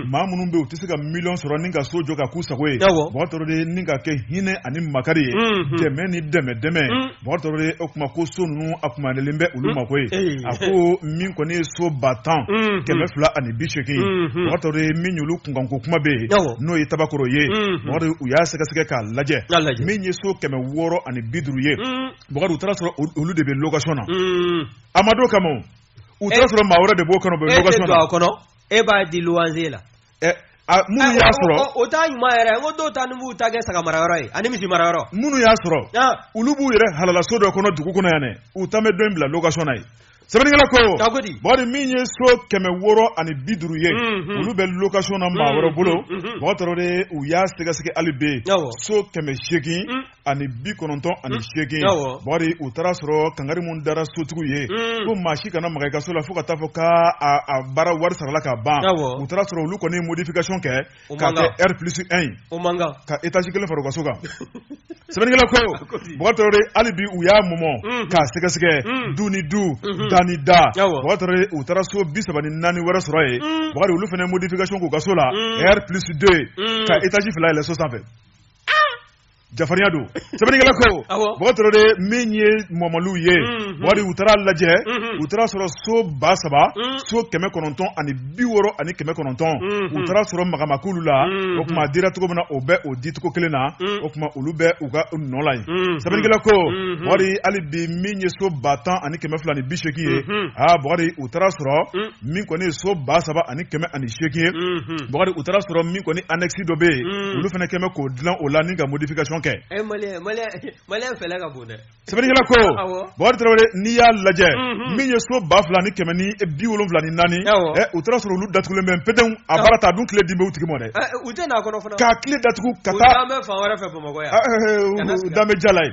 maa minnu bɛ u tɛ se ka miliyɔn sɔrɔ ni ka so jɔ ka k'u sago ye bɔgɔ tarawele nin ka kɛ hinɛ ani makari ye dɛmɛ ni dɛmɛ dɛmɛ bɔgɔ tarawele o tuma ko so ninnu a tuma len bɛ olu mako ye a ko min kɔni ye so ba tan kɛmɛ fila ani bi segin bɔgɔ tarawele min olu kunkanko kuma bɛ yen n'o ye tabakɔrɔ ye u y'a sɛgɛsɛgɛ k'a lajɛ min ye so kɛmɛ wɔɔrɔ ani bi duuru ye u taara a sɔrɔ olu de bɛ location na a ma da o kama u taara sɔrɔ maa wɛrɛ de b'o kɔnɔ u bɛ location na. e tɛ don a kɔnɔ e b'a di loyer la. ɛ a minnu y'a sɔrɔ. o t'a ɲuman yɛrɛ n ko dɔw taalen b'u ta kɛ saga mara yɔrɔ ye ani misi mara yɔrɔ. minnu y'a sɔrɔ. olu b'u yɛrɛ halalaso dɔ kɔnɔ dugu kɔnɔ yan dɛ u ta bɛ dɔ in bila location na yen. sɛbɛnnikɛla ko. bakari min ye so kɛmɛ wɔɔrɔ ani bi duuru ye. olu bɛ location na maa wɛrɛ bolo. bakari tarawele u y'a sɛgɛsɛgɛ hali bi. so kɛmɛ seegin ani bi kɔnɔntɔn ani hmm. seegin bakari u taara sɔrɔ kangari minnu dara sotigiw ye hmm. ko maa si kana maga i ka so la fo ka taa fɔ ka a baara wari sarala ka ban u taara sɔrɔ olu kɔni modification kɛ ka kɛ r plus 1 ye ka étage kelen fara u ka so kan sɛbɛnnikɛla ko bakari tarawele hali bi u y'a mɔmɔ hmm. k'a sɛgɛsɛgɛ du ni du da ni da bakari tarawele u taara so bi saba ni naani wɛrɛ sɔrɔ yen bakari olu fana modification k'u ka so la r plus 2 ka étage fila yɛlɛ so sanfɛ jafarinya don sɛbɛnnikɛla ko bakari tarawele min ye mɔmɔliw ye mhm. bakari u taara lajɛ mhm. u taara sɔrɔ so ba saba mhm. so kɛmɛ kɔnɔntɔn ani bi wɔɔrɔ ani kɛmɛ kɔnɔntɔn u taara sɔrɔ maga ma k'olu la o tuma a dira cogo min na o bɛ o dicogo kelen na o tuma olu bɛ u ka nɔ la yen sɛbɛnnikɛla ko bakari hali bi min ye so ba tan ani kɛmɛ fila ni bi seegin ye aa bakari u taara sɔrɔ min kɔni ye so ba saba ani kɛmɛ ani seegin ye mhm. bakari u taara sɔrɔ min kɔni annexe dɔ bɛ yen mhm. olu fana kɛlen bɛ k'o dilan o la ni ka modification kɛ eh, sɛbɛnnikɛla ko bakari tarawele n'i y'a lajɛ mhm. min ye so ba fila ni kɛmɛ ni bi wolonwula ni naani eh, u taara sɔrɔ olu datugulen bɛ pedenw a baara ta a dun kile dilen bɛ u tigi ma dɛ eh, k'a kile datugu ka taa dɔw bɛ jardin ye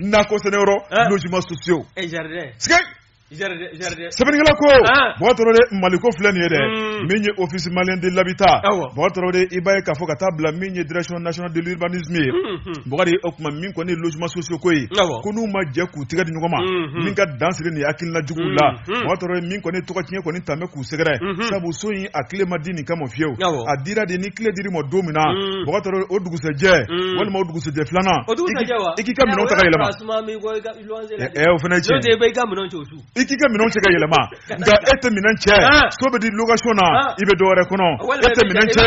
nakɔ sɛnɛ yɔrɔ ah. logement sociaux eh, jardin sika sɛbɛnnikɛla ko ah. bakari tarawele maliko filɛ nin ye dɛ hmm. min ye office malien de l'habitat mɔgɔ tɔrɔ de i b'a ye k'a fɔ ka taa bila min ye direction nationale de l'urbanisme ye hmm, hmm. bakari o tuma min kɔni ye logement sociaux ko ye ko n'u ma jɛ k'u tɛgɛ di ɲɔgɔn ma min ka dan sigi nin hakilina juguw la bakari tarawele min kɔni tɔgɔ tiɲɛ kɔni tun bɛ k'u sɛgɛrɛ sabu so in a kile ma di nin kama fiyewu a dira de ni kile dir'i ma don min na bakari o dugusɛjɛ walima o dugusɛjɛ filanan i k'i ka minɛn ta ka yɛlɛma o fana cɛ i k'i ka minɛn cɛ ka yɛlɛma nka e tɛ minɛn cɛ so bɛ di location na i bɛ dɔwɛrɛ kɔnɔ e tɛ minɛn cɛ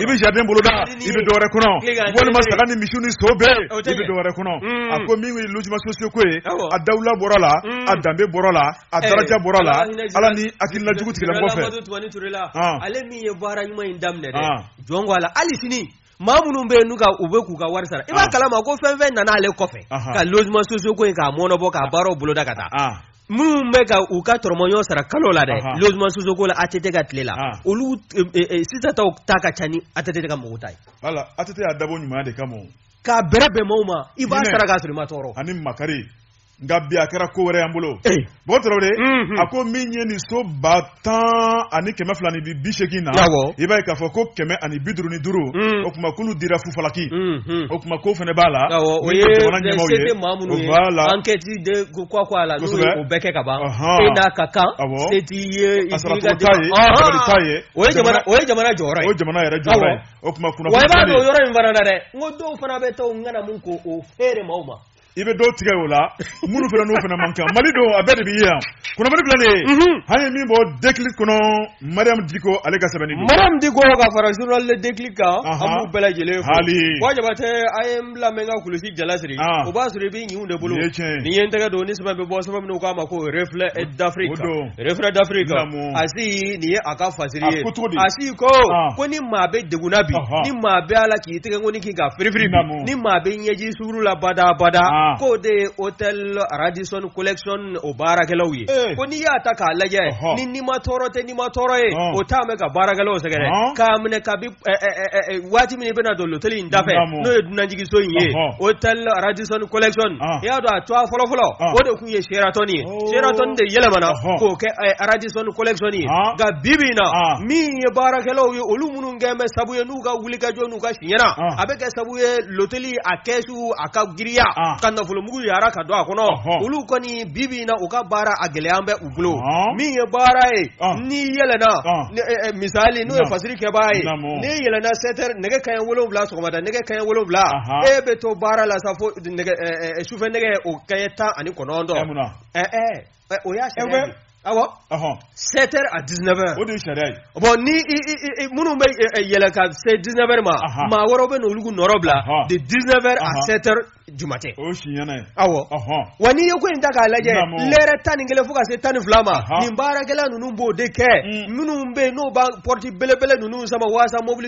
i bɛ jardin boloda i bɛ dɔwɛrɛ kɔnɔ walima saga ni misi ni so bɛɛ i bɛ dɔwɛrɛ kɔnɔ a ko min ye logement sociaux ko ye a dawula bɔra la a danbe bɔra la a daraja bɔra la ala ni hakilila jugu tigila kɔfɛ ale min ye baara ɲuman in daminɛ dɛ jɔn ko ala hali sini maa minnu bɛ yen n'u ka u bɛ k'u ka wari sara i b'a kalama ko fɛn fɛn nana ale kɔfɛ ka logement sociaux ko in k'a mɔnɔbɔ k'a baaraw boloda ka taa minnu bɛ ka u ka dɔrɔmɛ ɲɔgɔn sara kalo la dɛ logement sociaux ko la ATT ka tile la olu sisan taw ta ka ca ni ATT ka mɔgɔw ta ye wala ATT y'a dabɔ ɲumanya de kama o k'a bɛrɛ bɛn mɔɔw ma i b'a sara k'a sɔrɔ i ma tɔɔrɔ ani makari nka bi a kɛra ko wɛrɛ y'an bolo bon tarawele a ko min ye nin so ba tan ani kɛmɛ fila ni bi seegin na i b'a ye k'a fɔ ko kɛmɛ ani bi duuru ni duuru o tuma k'olu dira fufalaki o tuma ko fana b'a la o ye jamana ɲɛmaaw ye o b'a la ankɛti de ko ko a la n'o ye o bɛɛ kɛ ka ban e n'a ka kan se t'i ye i t'i ka t'a ye dabali t'a ye o ye jamana o ye jamana jɔyɔrɔ ye o ye jamana yɛrɛ jɔyɔrɔ ye o tuma kunnafoni wa i b'a dɔn o yɔrɔ in fana na dɛ n ko dɔw fana bɛ to n kana mun ko o feere maaw ma i bɛ dɔw tigɛ o la minnu fana n'u fana man kan mali don an bɛɛ de bɛ yan kunnafoni filɛ nin ye mhm. an ye min bɔ Déclic kɔnɔ mariam diko ale ka sɛbɛnni don mariam diko ka fara journal le Déclic kan an b'u bɛɛ lajɛlen fo ayiwa jabatɛ an ye n bila mɛ n ka kulusi jala siri ah. o b'a sɔrɔ i bɛ ɲinw de bolo nin ye n tɛgɛ don ni sɛbɛn bɛ bɔ sɛbɛn min u k'a ma ko reflet d'afrique reflet d'afrique asi nin ye a ka fasiri ye asi ko ah. ko ni maa bɛ degun na bi ni maa bɛ ala k'i tɛgɛ ko ni k'i ka firifiri ni maa bɛ ɲɛji duuru la badabada ah. k'o de ye hôtel Radisson collection o baarakɛlaw ye eh. ko n'i y'a ta k'a lajɛ uh -huh. ni nima tɔɔrɔ tɛ nima tɔɔrɔ ye uh -huh. o taalen bɛ ka baarakɛlaw sɛgɛrɛ uh -huh. k'a minɛ kabi eh, eh, eh, eh, waati min i bɛna don loteli in dafɛ n'o ye dunanjigiso in ye hôtel Radisson collection i y'a dɔn a tɔgɔ fɔlɔfɔlɔ o de tun ye Sheraton ye oh. Sheraton de yɛlɛmana k'o kɛ Radisson collection ye nka bibi in na min ye baarakɛlaw ye olu minnu kɛlen bɛ sabu ye u ka wulikajɔ n'u ka siɲɛna a bɛ kɛ sabu ye loteli a kɛsu a ka giriya ka nafolomugu yara ka don a kɔnɔ olu kɔni bibi in na u ka baara a gɛlɛya bɛ u bolo min ye baara ye n'i yɛlɛna e, e, misali n'o ye fasiri kɛbaa ye n'i yɛlɛna 7 heures nɛgɛ kaɲɛ wolonwula sɔgɔmada nɛgɛ kaɲɛ wolonwula e bɛ to baara la sa fo e, sufɛ nɛgɛ o kaɲɛ tan ani kɔnɔntɔn Ɛ, o y'a Ɛ, sariya bɛ- de ye. awɔ Ɔhɔn. 7 heures à 19 heures O de ye sariya ye. bon ni i, i, i, i- minnu bɛ ɛ, ɛ, yɛlɛn ka se 19 heures ma Ahan. maa wɛrɛw bɛ n'olu k'u nɔrɔ bila Ahan. de 19 heures à Ahan. 7 heures du matin O ye siɲɛna ye. awɔ Ɔhɔn. wa n'i ye ko in ta k'a lajɛ Naamu. lɛrɛ tan ni kelen fo ka se tan ni fila ma Ahan. nin baarakɛla ninnu b'o de kɛ Mm. minnu bɛ yen n'o b'a pɔrɔti belebele ninnu sama waasa mobili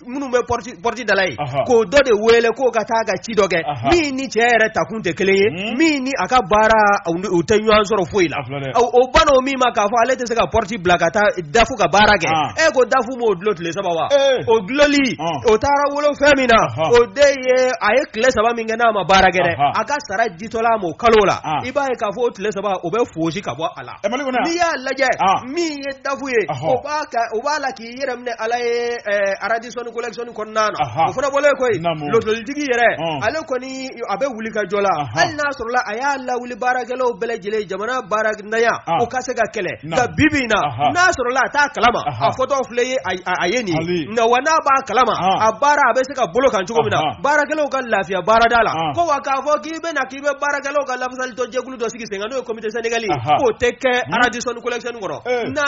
minnu bɛ pɔriti dala ye k'o dɔ de wele k'o ka taa ka ci dɔ kɛ min ni cɛ yɛrɛ taakun tɛ kelen ye hmm? min ni a ka baara u tɛ ɲɔgɔn sɔrɔ foyi la o banna min ma k'a fɔ ale tɛ se ka pɔriti bila ka taa dafu ka baara kɛ e ko dafu m'o dulon tile saba wa eh. o duloli o taara wolo fɛn min na o de ye a ye tile saba min kɛ n'a ma baara kɛ dɛ a ka sara ditɔla a ma o kalo la i b'a ye k'a fɔ o tile saba o bɛ foosi ka bɔ a la eh, n'i y'a lajɛ min ye dafu ye o b'a la k'i i yɛrɛ minɛ ala ye aradisɔni collection kɔnɔna na o fana bɔlen koyi lotɛlitigi yɛrɛ ale kɔni a bɛ wulikajɔ la hali n'a sɔrɔla a y'a lawuli baarakɛlaw bɛɛ lajɛlen jamana baarantanya o ka se ka kɛlɛ nka bibi in na n'a sɔrɔla a t'a kalama a foto filɛ ye a ye nin nka wa n'a b'a kalama a baara a bɛ se ka bolo kan cogo min na baarakɛlaw ka lafiya baarada la ko wa k'a fɔ k'i bɛna k'i bɛ baarakɛlaw ka lafasali dɔ jɛkulu dɔ sigi sen kan n'o ye comité syndical k'o tɛ kɛ aradisɔni collection kɔnɔna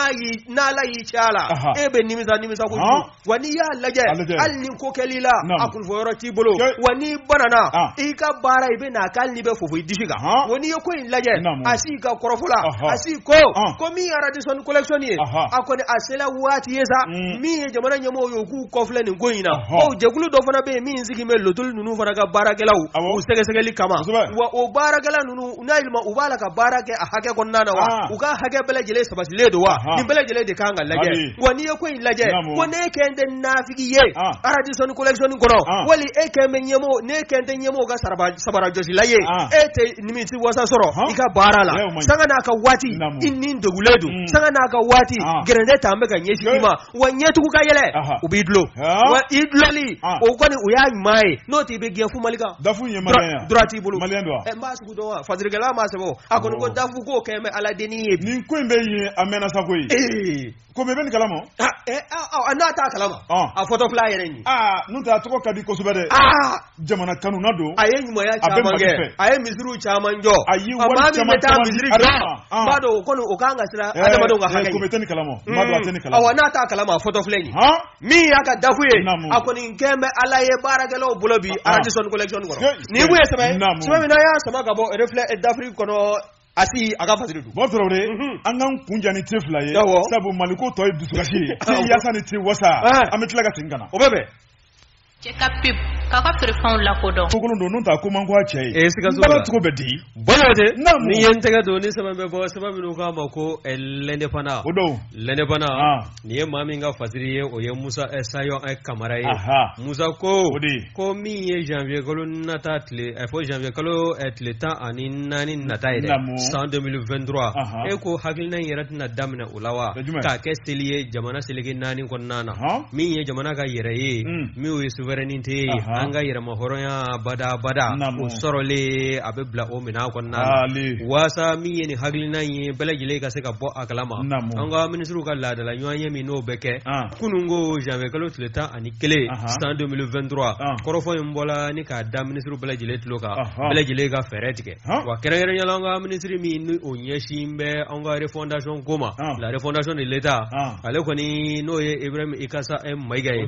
n'ala y'i cɛ a la Aha. e bɛ nimisa nimisa ko Han. wa n'i y'a lajɛ A lajɛ. hali ni ko kɛl'i la Naamu. a kunfɔ yɔrɔ t'i bolo Cɛ. wa n'i banana Ah. i ka baara i bɛn'a kɛ hali n'i bɛ fofo i disi kan Han. wa n'i ye ko in lajɛ Naamu. Asi ka kɔrɔfɔ la Aha. Asi ko Ah. ko min ye aradisɔni collection ye Aha. a kɔni a sela waati ye sa Mm. min ye jamana ɲɛmɔgɔw ye u k'u kɔfilɛ nin ko in na Aha. bawo jɛkulu dɔ fana bɛ yen min sigilen bɛ lotɛli ninnu fana ka baarakɛlaw Awɔ. u sɛgɛsɛgɛli kama Kosɛbɛ. wa o baarakɛla ninnu u n'a yɛlɛma u b'a la ka baara kɛ a hakɛ kɔnɔna na wa ah. u ka hakɛ bɛɛ lajɛlen sabatilen don wa nin bɛɛ lajɛlen de kan ka lajɛ wa n'i ye ko in lajɛ ko n'e kɛlen tɛ nafigi ye ah. aradisɔni collection kɔnɔ ah. wali e kɛlen bɛ ɲɛmɔgɔ n'e kɛlen tɛ ɲɛmɔgɔ ka sabarajɔsila ye e tɛ nimisiwasa sɔrɔ i ka baara la sanga n'a ka waati i ni degunnen don mm. sanga n'a ka waati gɛrɛntɛ ta bɛ ka ɲɛsin i ma wa ɲɛtugu ka yɛlɛ u b'i dulon wa i dulonni o kɔni o y'a ɲuman ye n'o t'i bɛ gɛn fu mali ka dafu ye maliyɛn droit t'i bolo maliyɛn don wa n b'a sugu dɔn wa fasirikɛla m'a sɛbɛn o a kɔni ko dafu k'o kɛlen bɛ ala dennin ye nin ko in bɛ yen a mɛnna sa koyi Komé bɛ nin kalama n'a t'a kalama a foto filɛ a yɛrɛ ye n'o tɛ a tɔgɔ ka di kosɛbɛ dɛ jamana kanuna don a ye ɲumanya caman kɛ a ye misiriw caman jɔ a ye wari caman caman di a d'a ma n b'a dɔn o kɔni o kan ka siran adamadenw ka hakɛ ɲɛ n'i tɛ nin kalama n b'a dɔn a tɛ nin kalama awɔ n'a t'a kalama a foto filɛ nin ye min y'a ka dafu ye a kɔni kɛlen bɛ ala ye baarakɛlaw bolo bi aradisɔn collection kɔnɔ nin tun ye sɛbɛn sɛbɛn min n'an y'a sama ka bɔ Reflet d'Afrique kɔnɔ Asi ka fasiri don. Bɔsɔrɔ de an k'an kun ja ni te fila ye. Sabu Mali ko tɔ ye dusukasi ye. Te yasa ni te wasa. An bɛ tila ka segin ka na. O bɛ bɛn. cɛ ka pub k'a ka feerefɛnw lakodɔn kokolon don n'o tɛ a ko man ko a cɛ ye ee sikaso baara cogo bɛ di bɔlɔ de ni ye n tɛgɛ don ni sɛbɛn bɛ bɔ sɛbɛn minnu k'a ma ko eh, L'Indépendant o don L'Indépendant ah. nin ye maa min ka fasiri ye o ye musa eh, sayɔn eh, kamara ye musa ko ko min ye janvier kalo nata tile fo janvier kalo tile tan ani naani nata ye dɛ san 2023 e ko hakilina in yɛrɛ tɛna daminɛ o la wa k'a kɛ seli ye jamana seleke naani kɔnɔna na min ye jamana ka yɛrɛ ye hmm. min ye souveraineté ye an ka yɛrɛma hɔrɔnya badabada o sɔrɔlen a bɛ bila o minɛn kɔnɔna na waasa min ye nin hakilina in ye bɛɛ lajɛlen ka se ka bɔ a kalama an ka minisiriw ka laadala ɲɔgɔnye min n'o bɛ kɛ ah. kunun ko janvier kalo tile tan ani kelen san 2023 ah. kɔrɔfɔ in bɔla ni k'a da minisiriw bɛɛ lajɛlen tulo kan bɛɛ lajɛlen ka fɛɛrɛ tigɛ wa kɛrɛnkɛrɛnyala an ka minisiri min ni o ɲɛsin bɛ an ka refondation ko ma la refondation de l'état ale kɔni n'o ye ibrahim ikassa maïga ye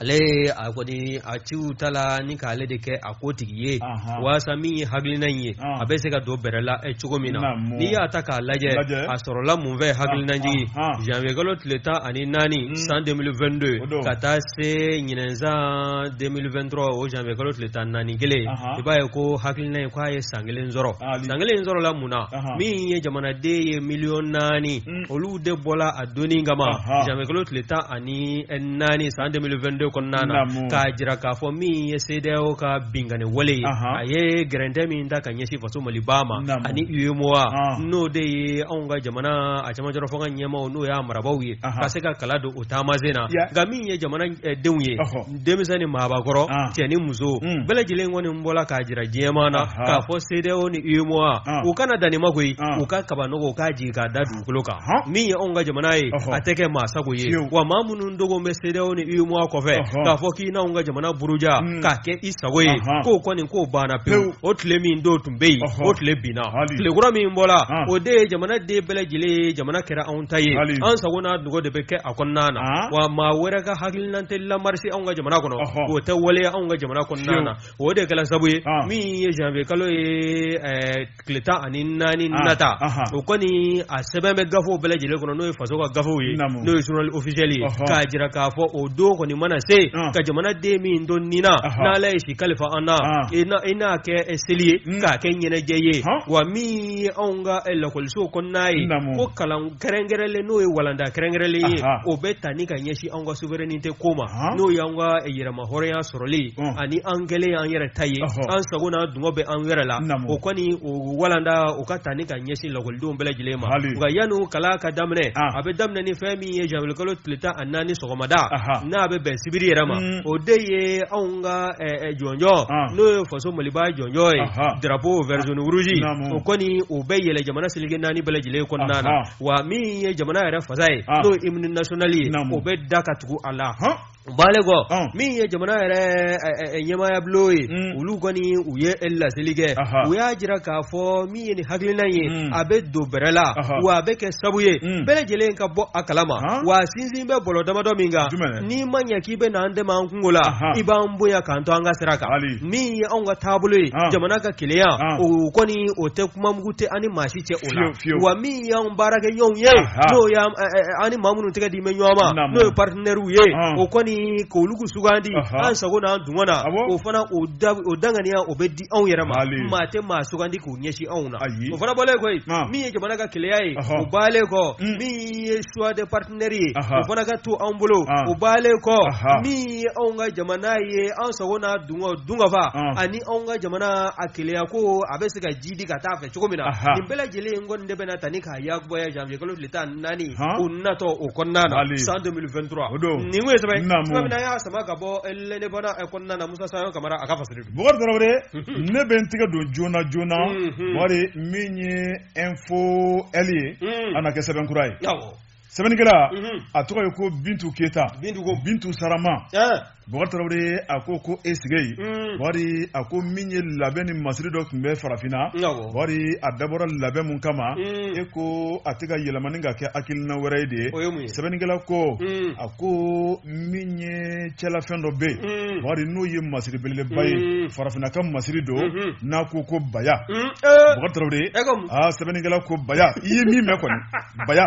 ale a kɔni a ci ta la ni k'ale de kɛ a ko tigi ye walasa min ye hakilina in ye a bɛ se ka don bɛrɛ la e cogo min na n'i y'a ta k'a lajɛ a sɔrɔla mun fɛ hakilinajigin janvier kalo tile tan ani naani san deux mille vingt-deux ka taa se ɲinan san deux mille vingt-trois o janvier kalo tile tan ni naani kelen i b'a ye ko hakilina ye k'a ye san kelen sɔrɔ san kelen sɔrɔla mun na min ye jamanaden ye miliyɔn naani mm. olu de bɔra a don kama janvier kalo tile tan ani naani san deux mille vingt-deux kɔnɔna na k'a jira k'a fɔ min ye cedeao ka binkanni wale ye a ye gɛrɛntɛ min da ka ɲɛsin faso maliba ma ani uemoa n'o de ye anw ka jamana a camajɔ fɔ ka ɲɛmaaw n'o y'a marabaw ye ka se ka kala don o taama sen na nka min ye jamana eh, denw ye denmisɛn ni maabakɔrɔ cɛ ni muso bɛɛ lajɛlen kɔni bɔra k'a jira diɲɛmaa na k'a fɔ cedeao ni uemoa u kana dan ma koyi u ka kaba wɔgɔ k'a jigin k'a da dugukolo kan min ye anw ka jamana ye a tɛ kɛ maa sago ye wa maa minnu dogo bɛ cedeao ni uemoa kɔfɛ k'a fɔ k'i n'anw ka jamana buruja k'a kɛ i sago ye k'o kɔni k'o banna pewu o tile min don tun bɛ yen o tile binna tile kura min bɔra o de ye jamanaden bɛɛ lajɛlen ye jamana kɛra anw ta ye an sago n'a dungɔ de bɛ kɛ a kɔnɔna na wa maa wɛrɛ ka hakili na tɛ lamarise anw ka jamana kɔnɔ o tɛ waleya anw ka jamana kɔnɔna na o de kɛra sabu ye min ye janvier kalo ye tile tan ani naani nata o kɔni a sɛbɛn bɛ gafew bɛɛ lajɛlen kɔnɔ n'o ye faso ka gafew ye n'o ye journal officiel ye k'a jira k'a fɔ o don kɔni mana se ka jamanaden min don ni na n'ala ye si kalifa an na i n'a kɛ seli ye k'a kɛ ɲɛnajɛ ye wa min ye anw ka lakɔliso kɔnɔna ye ko kalan kɛrɛnkɛrɛnlen n'o ye walanda kɛrɛnkɛrɛnlen ye o bɛ ta ni ka ɲɛsin an ka souveraineté ko ma n'o y'an ka yɛrɛmahɔrɔnya sɔrɔli ani an kɛlen y'an yɛrɛ ta ye an sago n'a dungɔ bɛ an yɛrɛ la o kɔni o walanda o ka ta ni ka ɲɛsin lakɔlidenw bɛɛ lajɛlen ma nka yanni kalan ka daminɛ a bɛ daminɛ ni fɛn min ye janvier kalo tile tan ani naani sɔgɔmada n'a bɛ bɛn sibiri yɛrɛ ma mm. o de ye anw ka jɔnjɔn n'o ye faso maliba jɔnjɔn ye drapeau vert jaune rouge o kɔni o bɛ yɛlɛn jamana tonkun naani bɛɛ lajɛlen kɔnɔna na wa min ye jamana yɛrɛ fasa ye n'o ye hymne national ye o bɛ da ka tugu a la bannen kɔ min ye jamana yɛrɛ ɲɛmaayabulon ye mm. olu kɔni u ye laseli kɛ u y'a jira k'a fɔ min ye nin hakilina ye mm. a bɛ don bɛrɛ la wa a bɛ kɛ sabu ye mm. bɛɛ lajɛlen ka bɔ a kalama wa sinsin bɛ bɔlɔ damadɔ min kan n'i ma ɲɛ k'i bɛ na an dɛmɛ an kungo la i b'an bonya k'an to an ka sira kan min ye anw ka taabolo ye ah. jamana ka keleya ah. o kɔni o tɛ kuma mugu tɛ an ni maa si cɛ o la wa min y'an baarakɛ ɲɔgɔnw ye ah, n'o y'an eh, eh, eh, an ni maa minnu tɛgɛ dilen bɛ ɲɔgɔn ma n'o ye partenaires ye o kɔni k'olu k'u sugandi an sago n'an dungɔ na o fana o danganiya o bɛ di anw yɛrɛ ma maa tɛ maa sugandi k'u ɲɛsin anw na o fana bɔlen kɔ yen min ye jamana ka keleya ye o bɔlen kɔ mm. min ye choix de parti partenaires ye o fana ka to an bolo o bɔlen kɔ min ye anw ka jamana ye an sago n'a dunkaw dunkafa ani anw ka jamana a keleya ko a bɛ se ka jiidi ka taa fɛ cogo min na nin bɛɛ lajɛlen in kɔni de bɛna ta ni k'a yakubaya janvier kalo tile tan ni naani o natɔ o kɔnɔna na san 2023 nin ko ye sɛbɛn tuma min na an y'a sama ka bɔ L'Indépendant kɔnɔna na Musa Sayɔn Kamara a ka fasari don Bukari Tarawele ne bɛ n tigɛ don joona joona Bakari min ye info L ye a na kɛ sɛbɛn kura ye. sɛbɛnnikɛla mhm. a tɔgɔ ye ko bintu keyita bintu ko bintu sarama Bukari Tarawele a ko ko e sigi ye mhm. Bakari a ko min ye labɛn ni masiri dɔ tun bɛ farafinna Bakari a dabɔra labɛn mun kama mhm. e ko a tɛ ka yɛlɛmani ka kɛ hakilina wɛrɛ ye dɛ sɛbɛnnikɛla ko a ko min ye cɛlafɛn dɔ bɛ yen Bakari n'o ye masiri belebeleba ye farafinna ka masiri don n'a ko ko baya Bukari Tarawele aa sɛbɛnnikɛla ko baya i ye min mɛn kɔni baya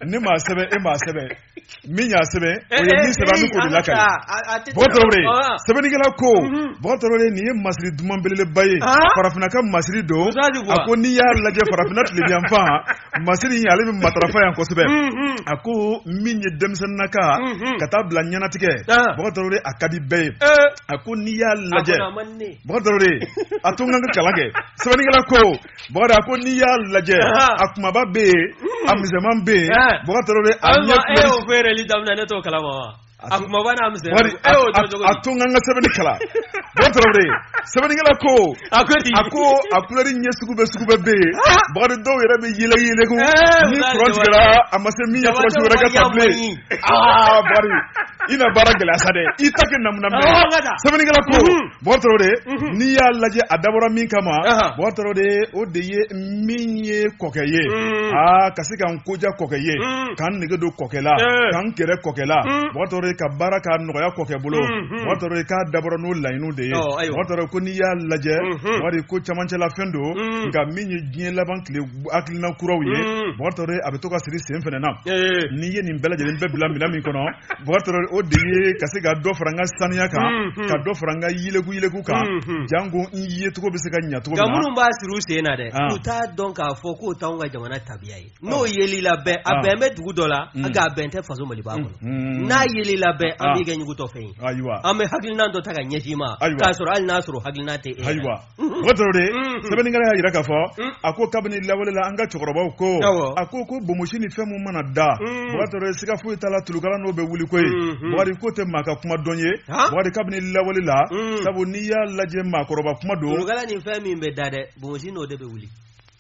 ne m'a sɛbɛn e m'a sɛbɛn min y'a sɛbɛn o ye min sɛbɛn an bɛ k'o de lakali Bukari Tarawele sɛbɛnnikɛla ko Bukari Tarawele nin ye masiri duman belebeleba ye farafinna ka masiri don a ko n'i y'a lajɛ farafinna tilebiyanfan masiri in ale bɛ matarafa yan kosɛbɛ a ko min ye denmisɛnninna ka ka taa bila ɲɛnatigɛ Bukari Tarawele a ka di bɛɛ ye a ko n'i y'a lajɛ Bukari Tarawele a to n ka kalan kɛ sɛbɛnnikɛla ko Bakari a ko n'i y'a lajɛ a kumaba bɛ yen hmm. a misɛnman bɛ yen Bukari Tarawele a ɲɛ e y'o feereli daminɛ ne t'o kalama wa a kumaba n'a misɛnman Bakari e y'o dɔn cogo di a to n ka n ka sɛbɛnni kalan Bukari Tarawele sɛbɛnnikɛla ko a ko di a ko a kulɛri ɲɛ sugu bɛɛ sugu bɛɛ bɛ yen Bakari dɔw yɛrɛ bɛ yeleku yeleku ko ni kuran tigɛra a ma se min ye kuran wɛrɛ ka ta bilen aa Bakari i na baara gɛlɛya sa dɛ i t'a kɛ namunamuna sɛbɛnnikɛla ko. Bukari Tarawele n'i y'a lajɛ a dabɔra min kama Bukari Tarawele o de ye min ye kɔkɛ ye aa ka se ka n ko diya kɔkɛ ye ka n nege don kɔkɛ la ka n gɛrɛ kɔkɛ la Bukari Tarawele ka baara ka nɔgɔya kɔkɛ bolo Bukari Tarawele k'a dabɔra n'o laɲiniw de ye Bukari Tarawele ko n'i y'a lajɛ Bakari ko camancɛla fɛn don nka min ye diɲɛ laban tile hakilina kuraw ye Bukari Tarawele a bɛ to ka siri sen fana na n'i ye nin bɛɛ lajɛlen bɛɛ bila minɛn min kɔnɔ o de ye ka se ka dɔ fara an ka saniya kan ka dɔ fara an ka yɛlɛku yɛlɛku kan janko an yecogo bɛ se ka ɲacogo minnu b'a siri u sen na dɛ u t'a dɔn k'a fɔ k'o t'anw ka jamana tabiya ye n'o yeli la bɛn a bɛn bɛ dugu dɔ la nka a bɛn tɛ faso maliba kɔnɔ n'a yeli la bɛn an b'i kɛ ɲugutɔ fɛn ye ayiwa an bɛ hakilina dɔ ta ka ɲɛsin i ma k'a sɔrɔ hali n'a sɔrɔ hakilina tɛ ayiwa o toro de sɛbɛnnikɛla y'a jira k'a fɔ a ko kabini lawale la an ka cɛkɔrɔbaw ko a ko ko bomosi ni fɛn min mana da o toro siga foyi t'a la tulukala n'o bɛ wuli koyi bakari ko tɛ maa ka kuma dɔn ye bakari kabini lawale la sabu n'i y'a lajɛ maakɔrɔba kuma don tulukala ni fɛn min bɛ da dɛ bomosi n'o de bɛ wuli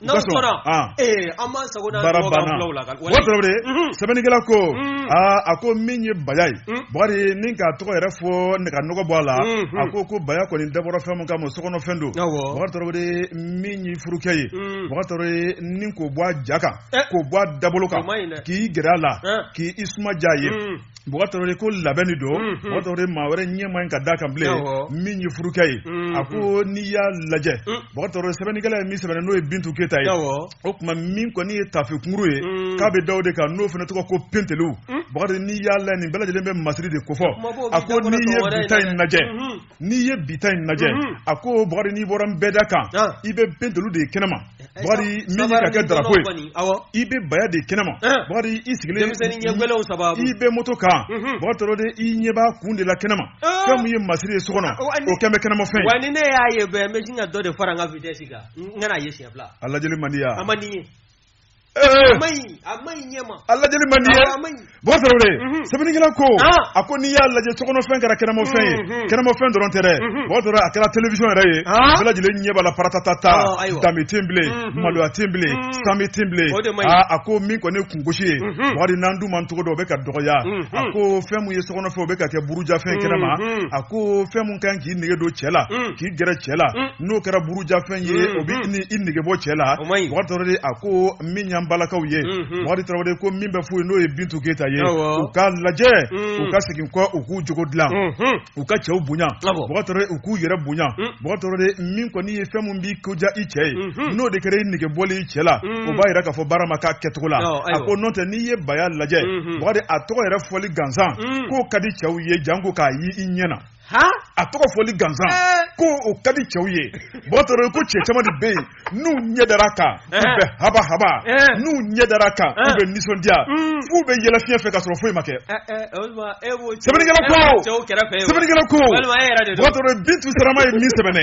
n'aw sɔnna ee an b'an sago n'an dungo k'an fulaw la o tɔrɔ de sɛbɛnnikɛla ko aa a ko min ye baya ye bakari ni k'a tɔgɔ yɛrɛ fɔ nɛgɛ nɔgɔ bɔ a la a ko ko baya kɔni dabɔra fɛn min kama sokɔnɔfɛn don bakari tɔrɔ de min ye furukɛ ye bakari tɔrɔ de ni k'o bɔ a ja kan k'o bɔ a dabolo kan k'i gɛrɛ a la k'i suma diya a ye bɔgɔtɔrɔ ko labɛnni don bɔgɔtɔrɔ maa wɛrɛ ɲɛ man kan ka da a kan bilen min ye furukɛ ye a ko n'i y'a lajɛ bɔgɔtɔrɔ sɛbɛnnikɛla ye min sɛbɛn n'o ye bintu keyita ye o tuma min kɔni ye taafe kunkurun ye k'a bɛ daw de kan n'o fana tɔgɔ ko pentelu bakari n'i y'a lajɛ nin bɛɛ lajɛlen bɛ masiri de ko fɔ a ko n'i ye bi ta in lajɛ n'i ye bi ta in lajɛ mhm. a ko bakari n'i bɔra nbɛda kan ah. i bɛ pentelu de ye kɛnɛma eh, eh, bakari min ye ka kɛ darapo ye i bɛ baya de kɛnɛma eh. bakari i sigilen i bɛ moto kan mhm. bakari tɔrɔ de i ɲɛ b'a kun de la kɛnɛma fɛn min ye masiri ye so kɔnɔ oh, o kɛlen bɛ kɛnɛma fɛn wa ni ne y'a ye bɛɛ n bɛ sin ka dɔ de fara n ka vitesse kan n kana ye siɲɛ fila a lajɛli man di yan a man di n ye Eh. a lajɛli man ɲi bɔgɔtɔrɔ mhm. sɛbɛnnikɛla ko ah. a ko n'i y'a lajɛ sokɔnɔfɛn kɛra kɛnɛmafɛn ye mhm. kɛnɛmafɛn dɔrɔn tɛ dɛ mhm. bɔgɔtɔrɔ a kɛra télévision yɛrɛ ye ah. bɛɛ lajɛlen ɲɛ b'a la paratata ta ah, danbe tɛ bilen maloya tɛ bilen saame tɛ bilen a ko min kɔni kungosi ye bakari n'an duman cogo don o bɛ ka dɔgɔya a ko fɛn min ye sokɔnɔfɛn o bɛ ka kɛ burujafɛn kɛnɛ ma a ko fɛn min ka kan k'i nege don cɛ la k'i gɛrɛ cɛ la n'o kɛra burujafɛn ye o bɛ na i nege bɔ cɛ la bakari tɔrɔ de a ko min y'an balakaw ye bakari ko min b'a fɔ i ye n'o ye bintu keyita ye u k'a lajɛ u ka segin kɔ u k'u cogo dilan u ka cɛw bonya u k'u yɛrɛ bonya bakari tɔrɔ de min kɔni ye fɛn min b'i ko diya i cɛ ye n'o de kɛra i nege bɔli i cɛ la o b'a jira k'a fɔ baara ma kɛ a kɛcogo la a ko n'o tɛ n'i ye baya lajɛ a tɔgɔ yɛrɛ fɔli gansan k'o ka di cɛw ye janko k'a ye i ɲɛ na a tɔgɔ fɔli gansan ko o ka di cɛw ye mɔgɔ tɔɔrɔ ko cɛ caman de bɛ yen n'u ɲɛ dara a kan u bɛ haba haba n'u ɲɛ dara a kan u bɛ nisɔndiya f'u bɛ yɛlɛ fiɲɛ fɛ ka sɔrɔ foyi ma kɛ sɛbɛnnikɛla ko sɛbɛnnikɛla ko mɔgɔ tɔɔrɔ bintu sarama ye nin sɛbɛn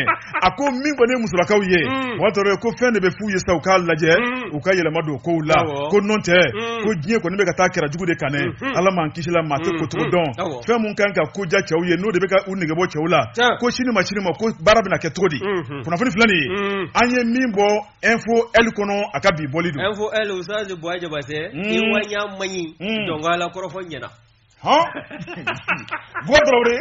a ko min kɔni ye musolakaw ye mɔgɔ tɔɔrɔ ko fɛn de bɛ f'u ye sa u k'a lajɛ u ka yɛlɛma don kow la ko n'o tɛ ko diɲɛ kɔni bɛ ka taa kɛrɛ jugu de kan dɛ ala m'an kisila maa tɛ ko cogo dɔn fɛn min kan ka ko diya cɛw ye n'o de bɛ ka u negebɔ cɛw la Tiɲɛ. ko sini ma sini ma ko baara bɛna kɛ cogo di Mhm. kunnafoni filɛ nin ye Mm. an ye min bɔ info l kɔnɔ a ka bi bɔli don info l usaze bɔa jabatɛ Mm. i wanya maɲi Mm. dɔnka la kɔrɔfɔ ɲɛna hɔn bɔ dɔrɔwre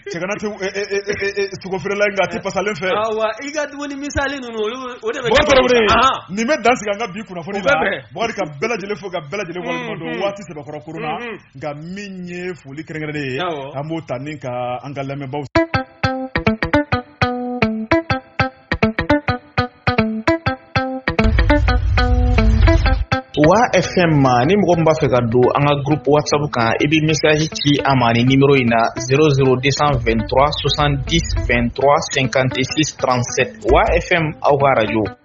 cɛgana tɛ eh, eh, eh, eh, eh, sogo feerela in nka a tɛ pasalen fɛ awa i ka dumuni misali ninnu olu o de bɛ bɔ dɔrɔwre Ahan. nin bɛ dan sigi an ka bi kunnafoni O la bɛ bɛn. bakari ka bɛɛ lajɛlen fo ka bɛɛ lajɛlen waleɲuman dɔn Mhm. waati sɛbɛkɔrɔ koro la mhm. nka min ye foli kɛrɛnkɛrɛnnen ye an b'o ta ni ka an ka lamɛnbaaw wa fm ma ni mɔgɔ min b'a fɛ ka don an ka groupe whatsapp kan i bɛ message ci a ma ni nimero in na 00223 70 23 56 37 wa fm aw ka radio